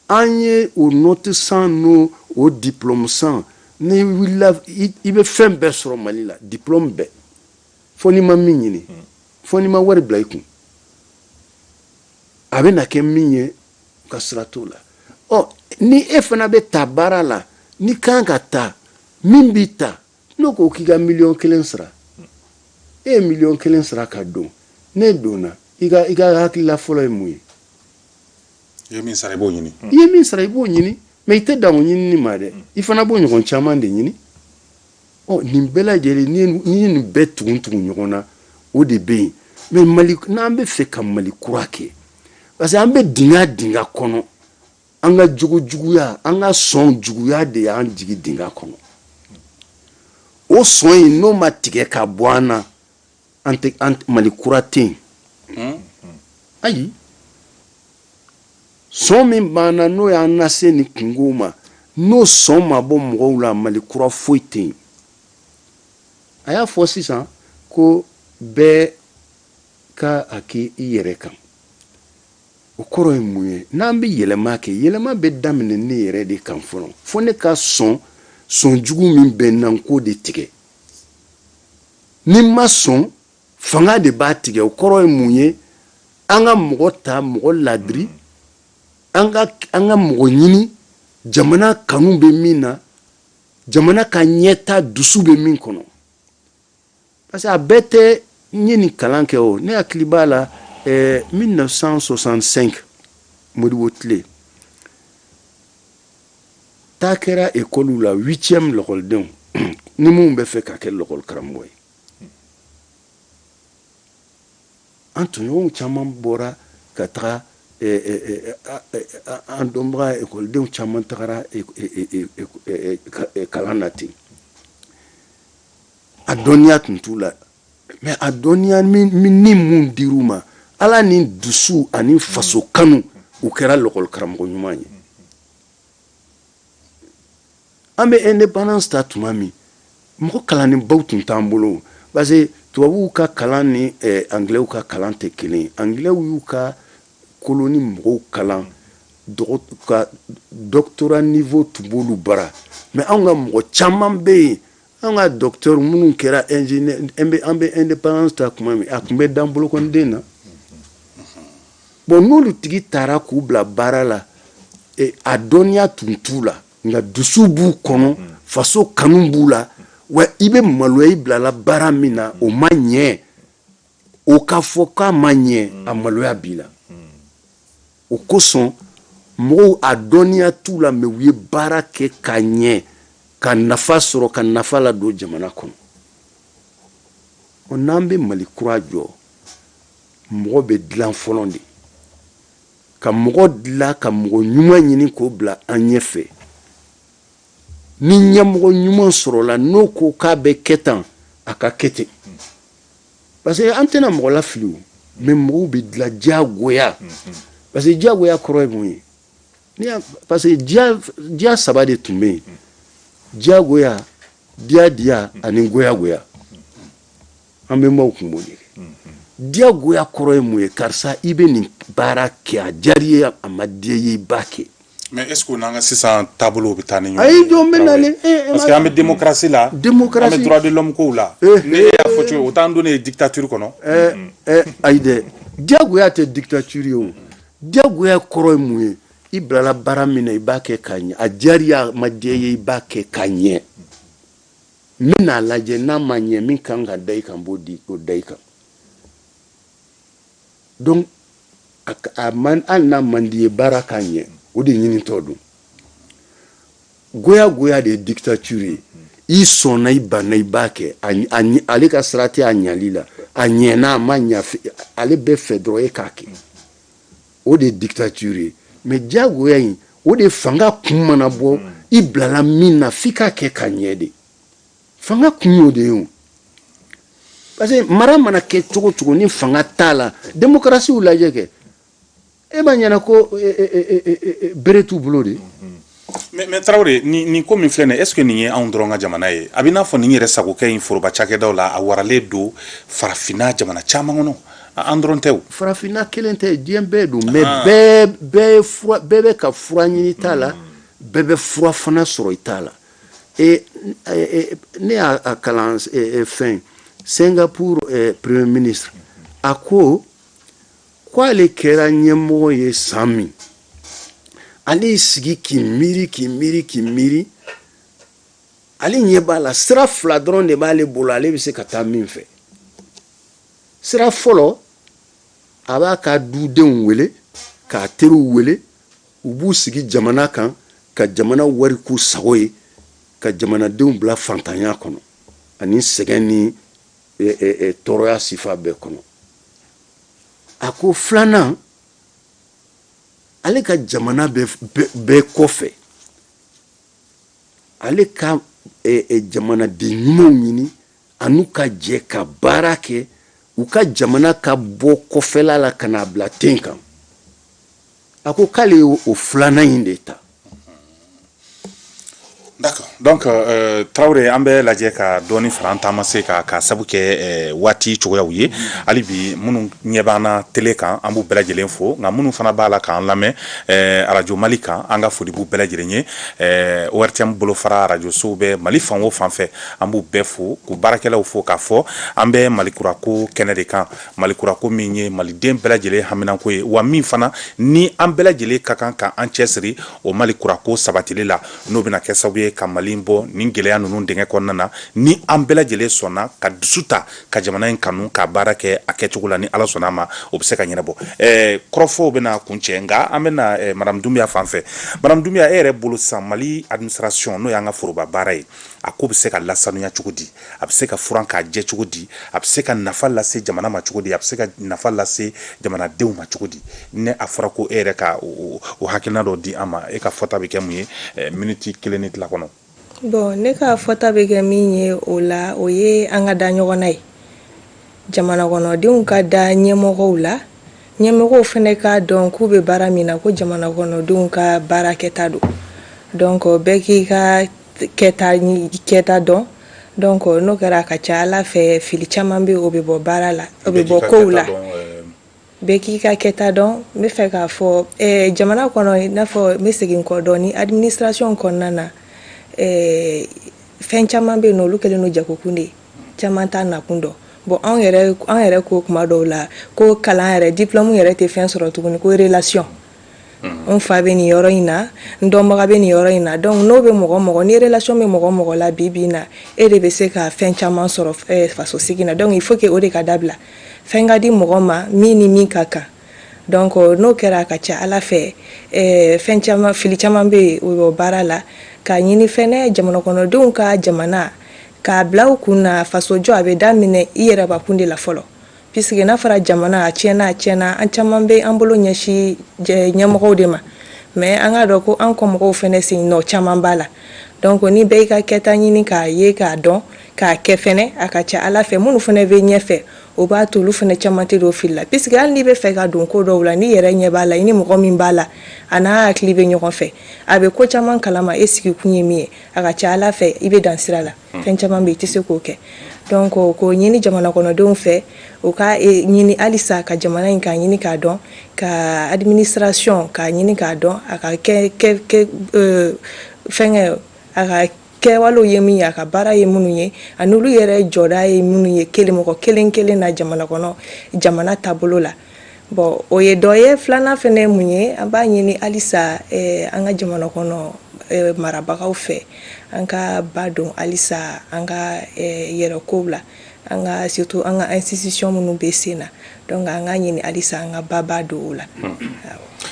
an ye o nɔti san n'o o diplɔmu san n'i wulila i bɛ fɛn bɛɛ sɔrɔ mali la diplɔmu bɛɛ fo n'i ma min ɲini hmm. fo n'i ma wari bila i kun a bɛna kɛ min ye ka sira t'o la ɔ ni e fana bɛ ta baara la n'i kan ka ta min b'i ta n'o ko k'i ka miliyɔn kelen sara hmm. e ye miliyɔn kelen sara ka don n'e donna i ka i ka hakilila fɔlɔ ye mun ye i ye min sara i b'o ɲini i ye min sara i b'o ɲini mais i tɛ dan o ɲinini ma dɛ i fana b'o ɲɔgɔn caman de ɲini ɔ nin bɛɛ lajɛlen n'i ye nin bɛɛ tugun tugu ɲɔgɔn na o de bɛ yen mais mali n'an bɛ fɛ ka mali kura kɛ parce que an bɛ dingɛ dingɛ kɔnɔ an ka jogo juguya an ka sɔn juguya de y'an jigi dingɛ kɔnɔ o sɔn in n'o ma tigɛ ka bɔ an na An tɛ an mali kura tɛ yen ayi sɔn min b'an na n'o y'an lase nin kunko ma n'o sɔn ma bɔ mɔgɔw la mali kura foyi tɛ yen a y'a fɔ sisan ko bɛɛ ka a kɛ i yɛrɛ kan o kɔrɔ ye mun ye n'an bɛ yɛlɛma kɛ yɛlɛma bɛ daminɛ ne yɛrɛ de kan fɔlɔ fo ne ka sɔn sɔn jugu min bɛ n na n k'o de tigɛ ni n ma sɔn fanga de b'a tigɛ o kɔrɔ ye mun ye an ka mɔgɔ ta mɔgɔ laadiri an ka mɔgɔ ɲini jamana kanu bɛ min na jamana ka ɲɛta dusu bɛ min kɔnɔ parce que a bɛɛ tɛ n ye nin kalan kɛ o ne hakili b'a la ɛɛ 1965 Modibo tile Taa kɛra ekɔliw la huitième lakɔlidenw ni minnu bɛ fɛ ka kɛ lakɔli karamɔgɔ ye an tɔɲɔgɔnw caman bɔra ka taga eh, eh, eh, an dɔnbaga ekɔlidenw caman tagara kalan na ten a dɔnniya tun t'u la mais a dɔnniya minimum dir'u ma ala ni dusu ani faso kanu u kɛra lakɔli karamɔgɔ ɲuman ye an bɛ indépendance ta tuma min mɔgɔ kalannenbaw tun t'an bolo parce que tubabuw ka kalan ni eh, anglɛw ka kalan tɛ kelen ye anglɛw y'u ka koloni mɔgɔw kalan ka doctorat niveau tun b'olu bara mais anw ka mɔgɔ caman bɛ yen An ka docteur minnu kɛra ingénieur an bɛ indépendance ta tuma min a tun bɛ dan bolokɔniden na bon n'olu tigi tara k'u bila baara la a dɔnniya tun t'u la nka dusu b'u kɔnɔ faso kanu b'u la wa i bɛ maloya i bilala baara min na o ma ɲɛ o k'a fɔ k'a ma ɲɛ mm. a maloya b'i la mm. o kosɔn mɔgɔw a dɔnniya t'u la mais u ye baara kɛ ka ɲɛ ka nafa sɔrɔ ka nafa ladon jamana kɔnɔ n'an bɛ mali kura jɔ mɔgɔ bɛ dilan fɔlɔ de ka mɔgɔ dilan ka mɔgɔ ɲuman ɲini k'o bila an ɲɛfɛ ni ɲɛmɔgɔ ɲuman sɔrɔla n'o ko k'a bɛ kɛ tan a ka kɛ ten parce que an tɛna mɔgɔ lafili o mais mɔgɔw bɛ dilan diyagoya parce que diyagoya kɔrɔ ye mun ye parce que diya saba de tun bɛ yen diyagoya diya diya ani goyagoya an bɛmaw kun b'o de kɛ diyagoya kɔrɔ ye mun ye karisa i bɛ nin baara kɛ a diyar'i ye a ma diy'i ye i b'a kɛ Mais est-ce que n'an ka sisan taabolo bɛ taa ni ɲɔgɔn ye jɔn bɛ na parce que an bɛ démocratie la an bɛ droit de l'homme kow la ne y'a fɔ cogo o t'an donnen ye dictature kɔnɔ ayi dɛ diyagoya tɛ dictature ye o diyagoya kɔrɔ ye mun ye i bilala baara min na i b'a kɛ ka ɲɛ a diyar'i ye a ma diya i ye i b'a kɛ ka ɲɛ n bɛn'a lajɛ n'a ma ɲɛ min ka kan ka da i kan n b'o da i kan donc hali n'a man d'i ye baara k'a ɲɛ o de ɲinitɔ don goya goya de ye dictature ye i sɔnna i banna i b'a kɛ ale ka sira tɛ a ɲali la a ɲɛna a ma ɲa ale bɛ fɛ dɔrɔn e k'a kɛ o de ye dictature ye mais diyagoya in o de fanga kun mana bɔ i bilala min na f'i k'a kɛ ka ɲɛ de fanga kun y'o de ye parce que mara mana kɛ cogo cogo ni fanga t'a la demokarasiw lajɛ kɛ e b'a ɲɛna ko e, e, e, bere t'u bolo de mais mais Traoré nin ko min filɛ nin est-ce que nin ye anw dɔrɔn ka jamana ye a bɛ n'a fɔ nin yɛrɛ sagokɛ in foroba cakɛdaw la a waralen don farafinna jamana caman kɔnɔ an dɔrɔn tɛ farafinna kelen tɛ diɲɛ bɛɛ don mais ah. bɛɛ bɛɛ bɛ ka fura ɲini i ta la bɛɛ bɛ fura fana sɔrɔ i ta la Et, ne y'a kalan fɛn Singapour premier ministre a ko k'ale kɛra ɲɛmɔgɔ ye san min ale y'i sigi k'i miiri k'i miiri k'i miiri ale ɲɛ b'a la sira fila dɔrɔn de b'ale bolo ale bɛ se ka taa min fɛ sira fɔlɔ a b'a ka dudenw wele k'a teriw wele u b'u sigi jamana kan ka jamana wari k'u sago ye ka jamanadenw bila fantanya kɔnɔ ani sɛgɛn ni tɔɔrɔya sifa bɛɛ kɔnɔ a ko filanan ale ka jamana bɛ kɔfɛ ale ka jamanaden ɲumanw ɲini a n'u ka jɛ ka baara kɛ u ka jamana ka bɔ kɔfɛla la ka n'a bila ten kan a ko k'ale ye o filanan in de ta D'accord. Donc euh, Traoré an b'a lajɛ ka dɔɔni fara an taamasen kan k'a sabu kɛ euh, waati cogoyaw ye hali bi minnu ɲɛ b'an na tele kan an b'u bɛɛ lajɛlen fo nka minnu fana b'a la k'an lamɛn euh, arajo mali kan an ka foli b'u bɛɛ lajɛlen ye euh, ORTM bolofara arajo sow bɛ mali fan o fan fɛ an b'u bɛɛ fo k'u baarakɛlaw fo k'a fɔ an bɛ malikurako kɛnɛ de kan Mali kura ko min ye maliden bɛɛ lajɛlen haminanko ye wa min fana ni an bɛɛ lajɛlen ka kan ka an cɛsiri o Mali kura ko sabatili la n'o bɛna kɛ sababu ye ka Mali bɔ nin gɛlɛya ninnu dingɛ kɔnɔna na ni an bɛɛ lajɛlen sɔnna ka dusu ta ka jamana in kanu ka baara kɛ a kɛcogo la ni Ala sɔnna a ma o bɛ se ka ɲɛnabɔ ɛɛ kɔrɔfɔw bɛna kuncɛ nka an bɛna ɛɛ madame Dunbiya fan fɛ madame Dunbiya e yɛrɛ bolo sisan Mali administration n'o y'an ka foroba baara ye a ko bɛ se ka lasanuya cogo di? a bɛ se ka furan k'a jɛ cogo di a bɛ se ka nafa lase jamana ma cogo di a bɛ se ka nafa lase jamanadenw ma cogo di ni a fɔra ko e yɛrɛ ka o hakilina dɔ di an ma e ka fɔta bɛ kɛ mun ye eh, miniti kelen ni tila kɔnɔ bon ne ka fɔta bɛ kɛ min ye o la o ye an ka da ɲɔgɔn na ye jamana kɔnɔdenw ka da ɲɛmɔgɔw la ɲɛmɔgɔw fana k'a dɔn k'u bɛ baara min na ko jamana kɔnɔdenw ka baara kɛta don donc bɛɛ k'i ka kɛta dɔn donc n'o kɛra a ka ca a la fɛ fili caman bɛ o bɛ bɔ baara la o bɛ bɔ kow la bɛɛ k'i ka kɛta dɔn n bɛ fɛ k'a fɔ jamana kɔnɔ n'a fɔ n bɛ segin kɔ dɔɔnin administration kɔnɔna na fɛn caman bɛ yen olu kɛlen don jagokun de ye caman t'a nakun dɔn bon anw yɛrɛ ko kuma dɔw la ko kalan yɛrɛ diplôme yɛrɛ tɛ fɛn sɔrɔ tuguni ko relation n fa bɛ nin yɔrɔ in na n dɔnbaga bɛ nin yɔrɔ in na donc n'o bɛ mɔgɔ mɔgɔ ni relation bɛ mɔgɔ mɔgɔ la bi bi in na e de bɛ se ka fɛn caman sɔrɔ eh, faso sigi na donc il faut que o de ka dabila fɛn ka di mɔgɔ ma min ni min ka kan donc euh, n'o kɛra a ka ca a la fɛ eh, fɛn caman fili caman bɛ yen o baara la k'a ɲini fɛnɛ jamana kɔnɔdenw ka jamana k'a bila u kun na faso jɔ a bɛ daminɛ i yɛrɛ bakun de la fɔlɔ Puisque n'a fɔra jamana a tiɲɛna a tiɲɛna an caman bɛ an bolo ɲɛsin jɛ- ɲɛmɔgɔw de ma mais an k'a dɔn ko an kɔ mɔgɔw fɛnɛ sen nɔ caman b'a la donc ni bɛɛ y'i ka kɛta ɲini k'a ye k'a dɔn k'a kɛ fɛnɛ a ka ca a la fɛ minnu fɛnɛ bɛ ɲɛfɛ o b'a to olu fɛnɛ caman tɛ don fili la puisque hali n'i bɛ fɛ ka don ko dɔw la n'i yɛrɛ ɲɛ b'a la i ni mɔgɔ min b'a la a n'a hakili bɛ ɲɔgɔn fɛ a bɛ ko caman kalama e sigikun ye min ye a ka ca a la fɛ i bɛ dan sira la fɛn caman bɛ i tɛ se k'o kɛ donc k'o ɲini jamana kɔnɔdenw fɛ u ka e, ɲini halisa ka jamana in k'a ɲini k'a dɔn ka administration k'a ɲini k'a dɔn a ka kɛ kɛ kɛ euh, fɛnkɛ a ka kɛwalew ye min ye a ka baara ye minnu ye ani olu yɛrɛ jɔda ye minnu ye kelen mɔgɔ kelen kelen na jamana kɔnɔ jamana taabolo la bon o ye dɔ ye filanan fɛnɛ ye mun ye an b'a ɲini halisa eh, an ka jamana kɔnɔ eh, marabagaw fɛ an ka ba don halisa an ka eh, yɛrɛkow la an ka surtout an ka institution minnu bɛ sen na donc an ka ɲini halisa an ka baba don o la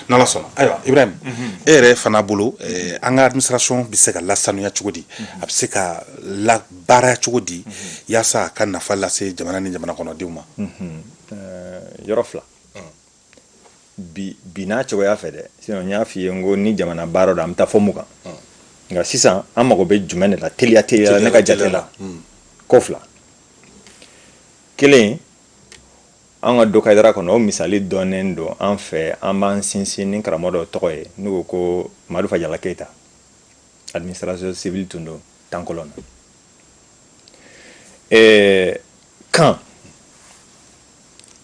n'ala sɔnna ayiwa ibrahim mhm. e yɛrɛ fana bolo eh, an ka administration bɛ se ka lasanuya cogo di mhm. a bɛ se ka labaaraya cogo di mhm. yaasa a ka nafa lase jamana ni jamana kɔnɔdenw ma yɔrɔ fila bi bi n'a cogoya fɛ dɛ sinon n y'a f'i ye n ko ni jamana baara don an bɛ taa fɔ mun kan nka sisan an mago bɛ jumɛn de la teliya teliya la ne ka jate la ko fila kelen an ka dokayidara kɔnɔ o misali dɔnnen don an fɛ an b'an sinsin ni karamɔgɔ dɔ tɔgɔ ye n'u ko ko madu fajala keyita administrateur civil tun don temps colon na kan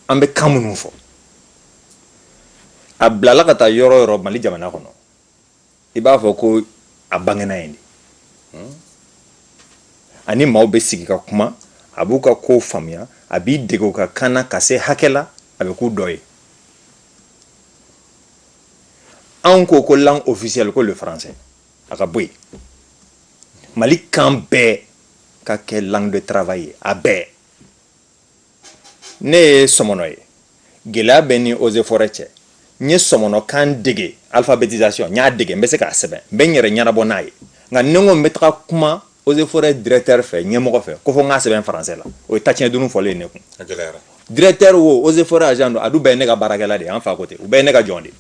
an bɛ kan minnu fɔ a bilala ka taa yɔrɔ yɔrɔ mali jamana kɔnɔ i b'a fɔ ko a bangena yen de hmm? a ni maaw bɛ sigi ka kuma a b'u ka kow faamuya a b'i dege u ka kan na ka se hakɛ la a bɛ k'u dɔ ye anw ko ko langue officielle ko le français a ka bɔ yen mali kan bɛɛ ka kɛ langue de travail ye a bɛɛ ne ye sɔmɔnɔ ye gɛlɛya bɛ n ni eaux et forêts cɛ n ye sɔmɔnɔkan dege alphabétisation n y'a dege n bɛ se k'a sɛbɛn n bɛ n yɛrɛ ɲɛnabɔ n'a ye nka ni n ko n bɛ taga kuma eaux et forêts directeur fɛ ɲɛmɔgɔ fɛ ko fo n k'a sɛbɛn français la o ye tatiɲɛ dunun fɔlen ye ne kun directeur wo eaux et forêts agent don a dun bɛɛ ye ne ka baarakɛla de ye an fa ko ten u bɛɛ ye ne ka jɔn de ye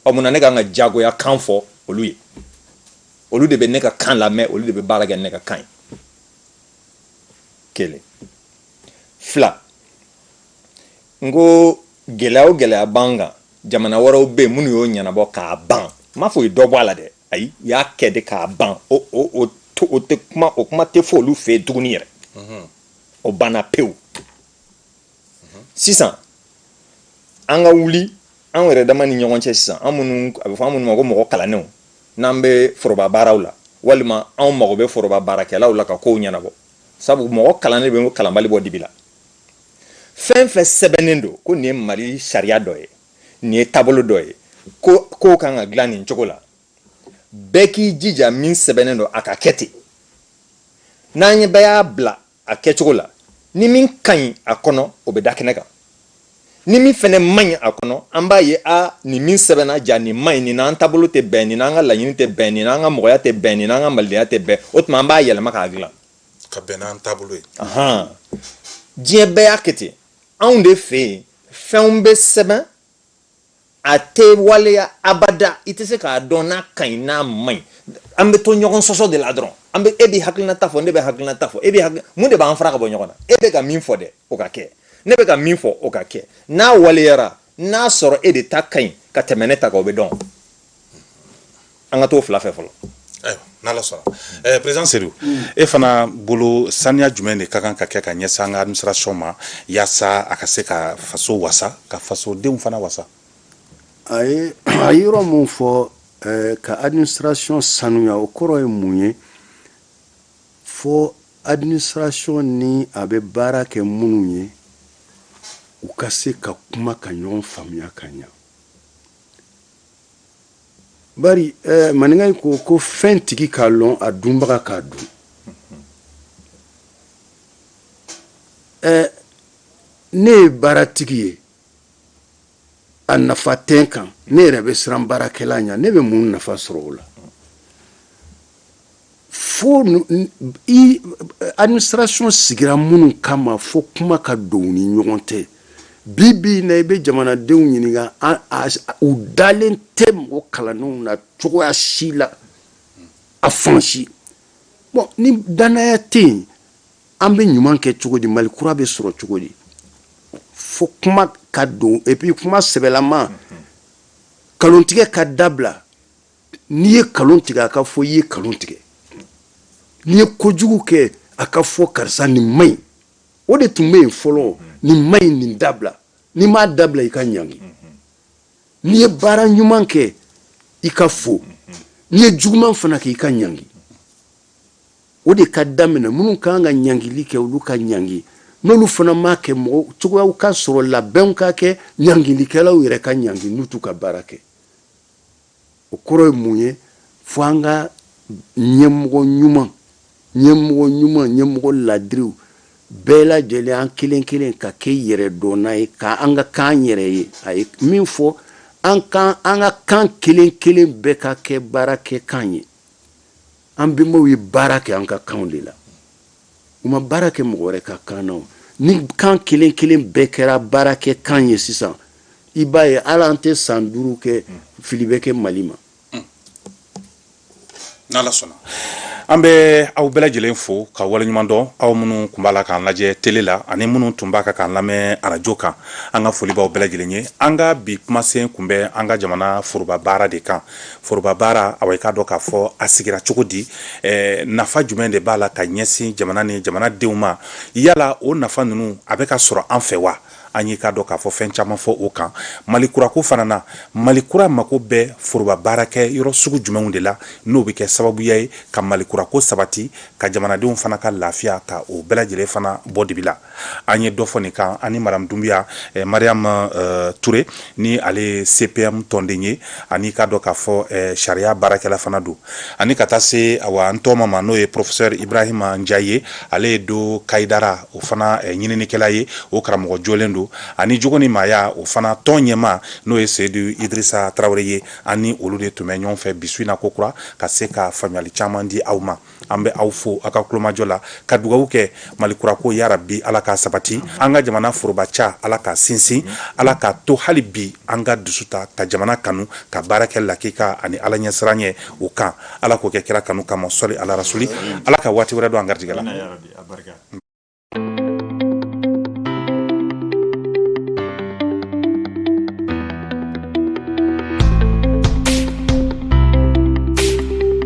ɔ mun na ne ka kan ka jagoya kan fɔ olu ye olu de bɛ ne ka kan lamɛn olu de bɛ baara kɛ ne ka kan ye kelen fila n ko gɛlɛya o gɛlɛya b'an kan jamana wɛrɛw bɛ yen minnu y'o ɲɛnabɔ k'a ban n m'a fɔ u ye dɔ bɔ a la dɛ ayi u y'a kɛ de k'a ban o o o to o tɛ kuma o kuma tɛ fɔ olu fɛ yen tuguni yɛrɛ o banna pewu sisan an ka wuli an yɛrɛ dama ni ɲɔgɔn cɛ sisan an minnu a bɛ fɔ an minnu ma ko mɔgɔ kalannenw n'an bɛ foroba baaraw la walima anw mago bɛ foroba baarakɛlaw la ka kow ɲɛnabɔ sabu mɔgɔ kalannen bɛ kalanbali bɔ dibi la fɛn fɛn sɛbɛnnen don ko nin ye mali sariya dɔ ye nin ye taabolo dɔ ye ko kow kan ka dilan nin cogo la bɛɛ k'i jija min sɛbɛnnen don a ka kɛ ten n'an ye bɛɛ y'a bila a kɛcogo la ni min ka ɲi a kɔnɔ o bɛ da kɛnɛ kan ni min fɛnɛ man ɲi a kɔnɔ an b'a ye a nin min sɛbɛnna ja nin man ɲi nin n'an taabolo tɛ bɛn nin n'an ka laɲini tɛ bɛn nin n'an ka mɔgɔya tɛ bɛn nin n'an ka malidenya tɛ bɛn o tuma an b'a yɛlɛma k'a dilan ka bɛn n'an taabolo ye diɲɛ bɛɛ y'a kɛ ten anw de fɛ yen fɛnw bɛ sɛbɛn a tɛ waleya abada i tɛ se k'a dɔn n'a ka ɲi n'a man ɲi an bɛ to ɲɔgɔn sɔsɔ de la dɔrɔn an bɛ e bɛ hakilinata fɔ ne bɛ hakilinata fɔ e bɛ hakili mun de b'an fara ka bɔ ɲɔgɔn na e bɛ ka min fɔ dɛ o ka kɛ ne bɛ ka min fɔ o ka kɛ n'a waleyara n'a sɔrɔ e de ta ka ɲi ka tɛmɛ ne ta kan o bɛ dɔn an ka t'o fila fɛ fɔlɔ n'ala sɔnna ɛɛ président Sedu e fana bolo saniya jumɛn de ka kan ka kɛ ka ɲɛsin an ka administration ma yaasa a ka se ka faso wasa ka fasodenw fana wasa a ye a ye yɔrɔ min fɔ ɛɛ ka administration sanuya o kɔrɔ ye mun ye fo administration ni a bɛ baara kɛ minnu ye u ka se ka kuma ka ɲɔgɔn faamuya ka ɲa Maninka in ko ko fɛn tigi k'a lɔn a dunbaga k'a dun ne ye baara tigi ye a nafa tɛ n kan ne yɛrɛ bɛ siran baarakɛla ɲa ne bɛ mun nafa sɔrɔ o la fo administration sigira minnu kama fo kuma ka don u ni ɲɔgɔn tɛ bi bi na i bɛ jamanadenw ɲininka u dalen tɛ mɔgɔ kalannenw na cogoya si la a fan si bonya ni dannaya tɛ yen an bɛ ɲuman kɛ cogo di mali kura bɛ sɔrɔ cogo di fo kuma ka don et puis kuma sɛbɛlama nkalontigɛ ka dabila n'i ye nkalon tigɛ a ka fɔ i ye nkalon tigɛ n'i ye kojugu kɛ a ka fɔ karisa nin man ɲi o de tun bɛ yen fɔlɔ nin man ɲi nin dabila n'i m'a dabila i ka ɲangi n'i ye baara ɲuman kɛ i ka fo n'i ye juguman fana kɛ i ka ɲangi o de ka daminɛ minnu ka kan ka ɲangili kɛ olu ka ɲangi n'olu fana m'a kɛ mɔgɔ cogoyaw ka sɔrɔ labɛnw ka kɛ ɲangilikɛlaw yɛrɛ ka ɲangi n'u t'u ka baara kɛ o kɔrɔ ye mun ye fo an ka ɲɛmɔgɔ ɲuman ɲɛmɔgɔ ɲuman ɲɛmɔgɔ ladiriw bɛɛ lajɛlen an kelen kelen ka kɛ yɛrɛ dɔnna ye ka an ka kan yɛrɛ ye a ye min fɔ an kan an ka kan kelen kelen bɛɛ ka kɛ baara kɛ kan ye an bɛnbaw ye baara kɛ an ka kanw de la U ma baara kɛ mɔgɔ wɛrɛ ka kan na ni kan kelen kelen bɛɛ kɛra baara kɛ kan ye sisan i b'a ye ala an tɛ san duuru kɛ fili bɛ kɛ mali ma n'ala sɔnna an bɛ aw bɛɛ lajɛlen fo ka wale ɲuman dɔn aw minnu tun b'a la k'an lajɛ tele la ani minnu tun b'a kan k'an lamɛn arajo kan an ka foli b'aw bɛɛ lajɛlen ye an ka bi kumasen tun bɛ an ka jamana foroba baara de kan foroba baara aw k'a dɔn k'a fɔ a sigira cogo di nafa jumɛn de b'a la ka ɲɛsin jamana ni jamanadenw ma yala o nafa ninnu a bɛ ka sɔrɔ an fɛ wa an y'i k'a dɔn k'a fɔ fɛn caman fɔ o kan mali kurako fana na mali kura mako bɛ foroba baara kɛ yɔrɔ sugu jumɛnw de la n'o bɛ kɛ sababuya ye ka mali kurako sabati ka jamanadenw fana ka lafiya ka o bɛɛ lajɛlen fana bɔ dibi la an ye dɔ fɔ nin kan ani madamu dunbiya eh, mariam eh, ture ni ale ye cpm tɔnden ye ani k'a dɔn k'a fɔ eh, sariya baarakɛla fana don ani ka taa se awa n tɔɔma ma n'o ye professeur ibrahima njayi ale ye do kayidara o fana eh, ɲininikɛla ye o karamɔgɔ jɔlen don ani jogo ni maaya o fana tɔn ɲɛmaa n'o ye seyidu idrisa tarawele ye an ni olu de tun bɛ ɲɔgɔn fɛ bi su in na ko kura ka se ka faamuyali caman di aw ma an bɛ aw fo aw ka tulomajɔ la ka dugawu kɛ mali kura ko yarabi ala k'a sabati an ka jamana foroba ca ala k'a sinsin ala k'a to hali bi an ka dusu ta ka jamana kanu ka baara kɛ lakika ani ala ɲɛsiran ye o kan ala k'o kɛ kira kanu kama sɔli ala rasuli ala ka waati wɛrɛ don an garijɛgɛ la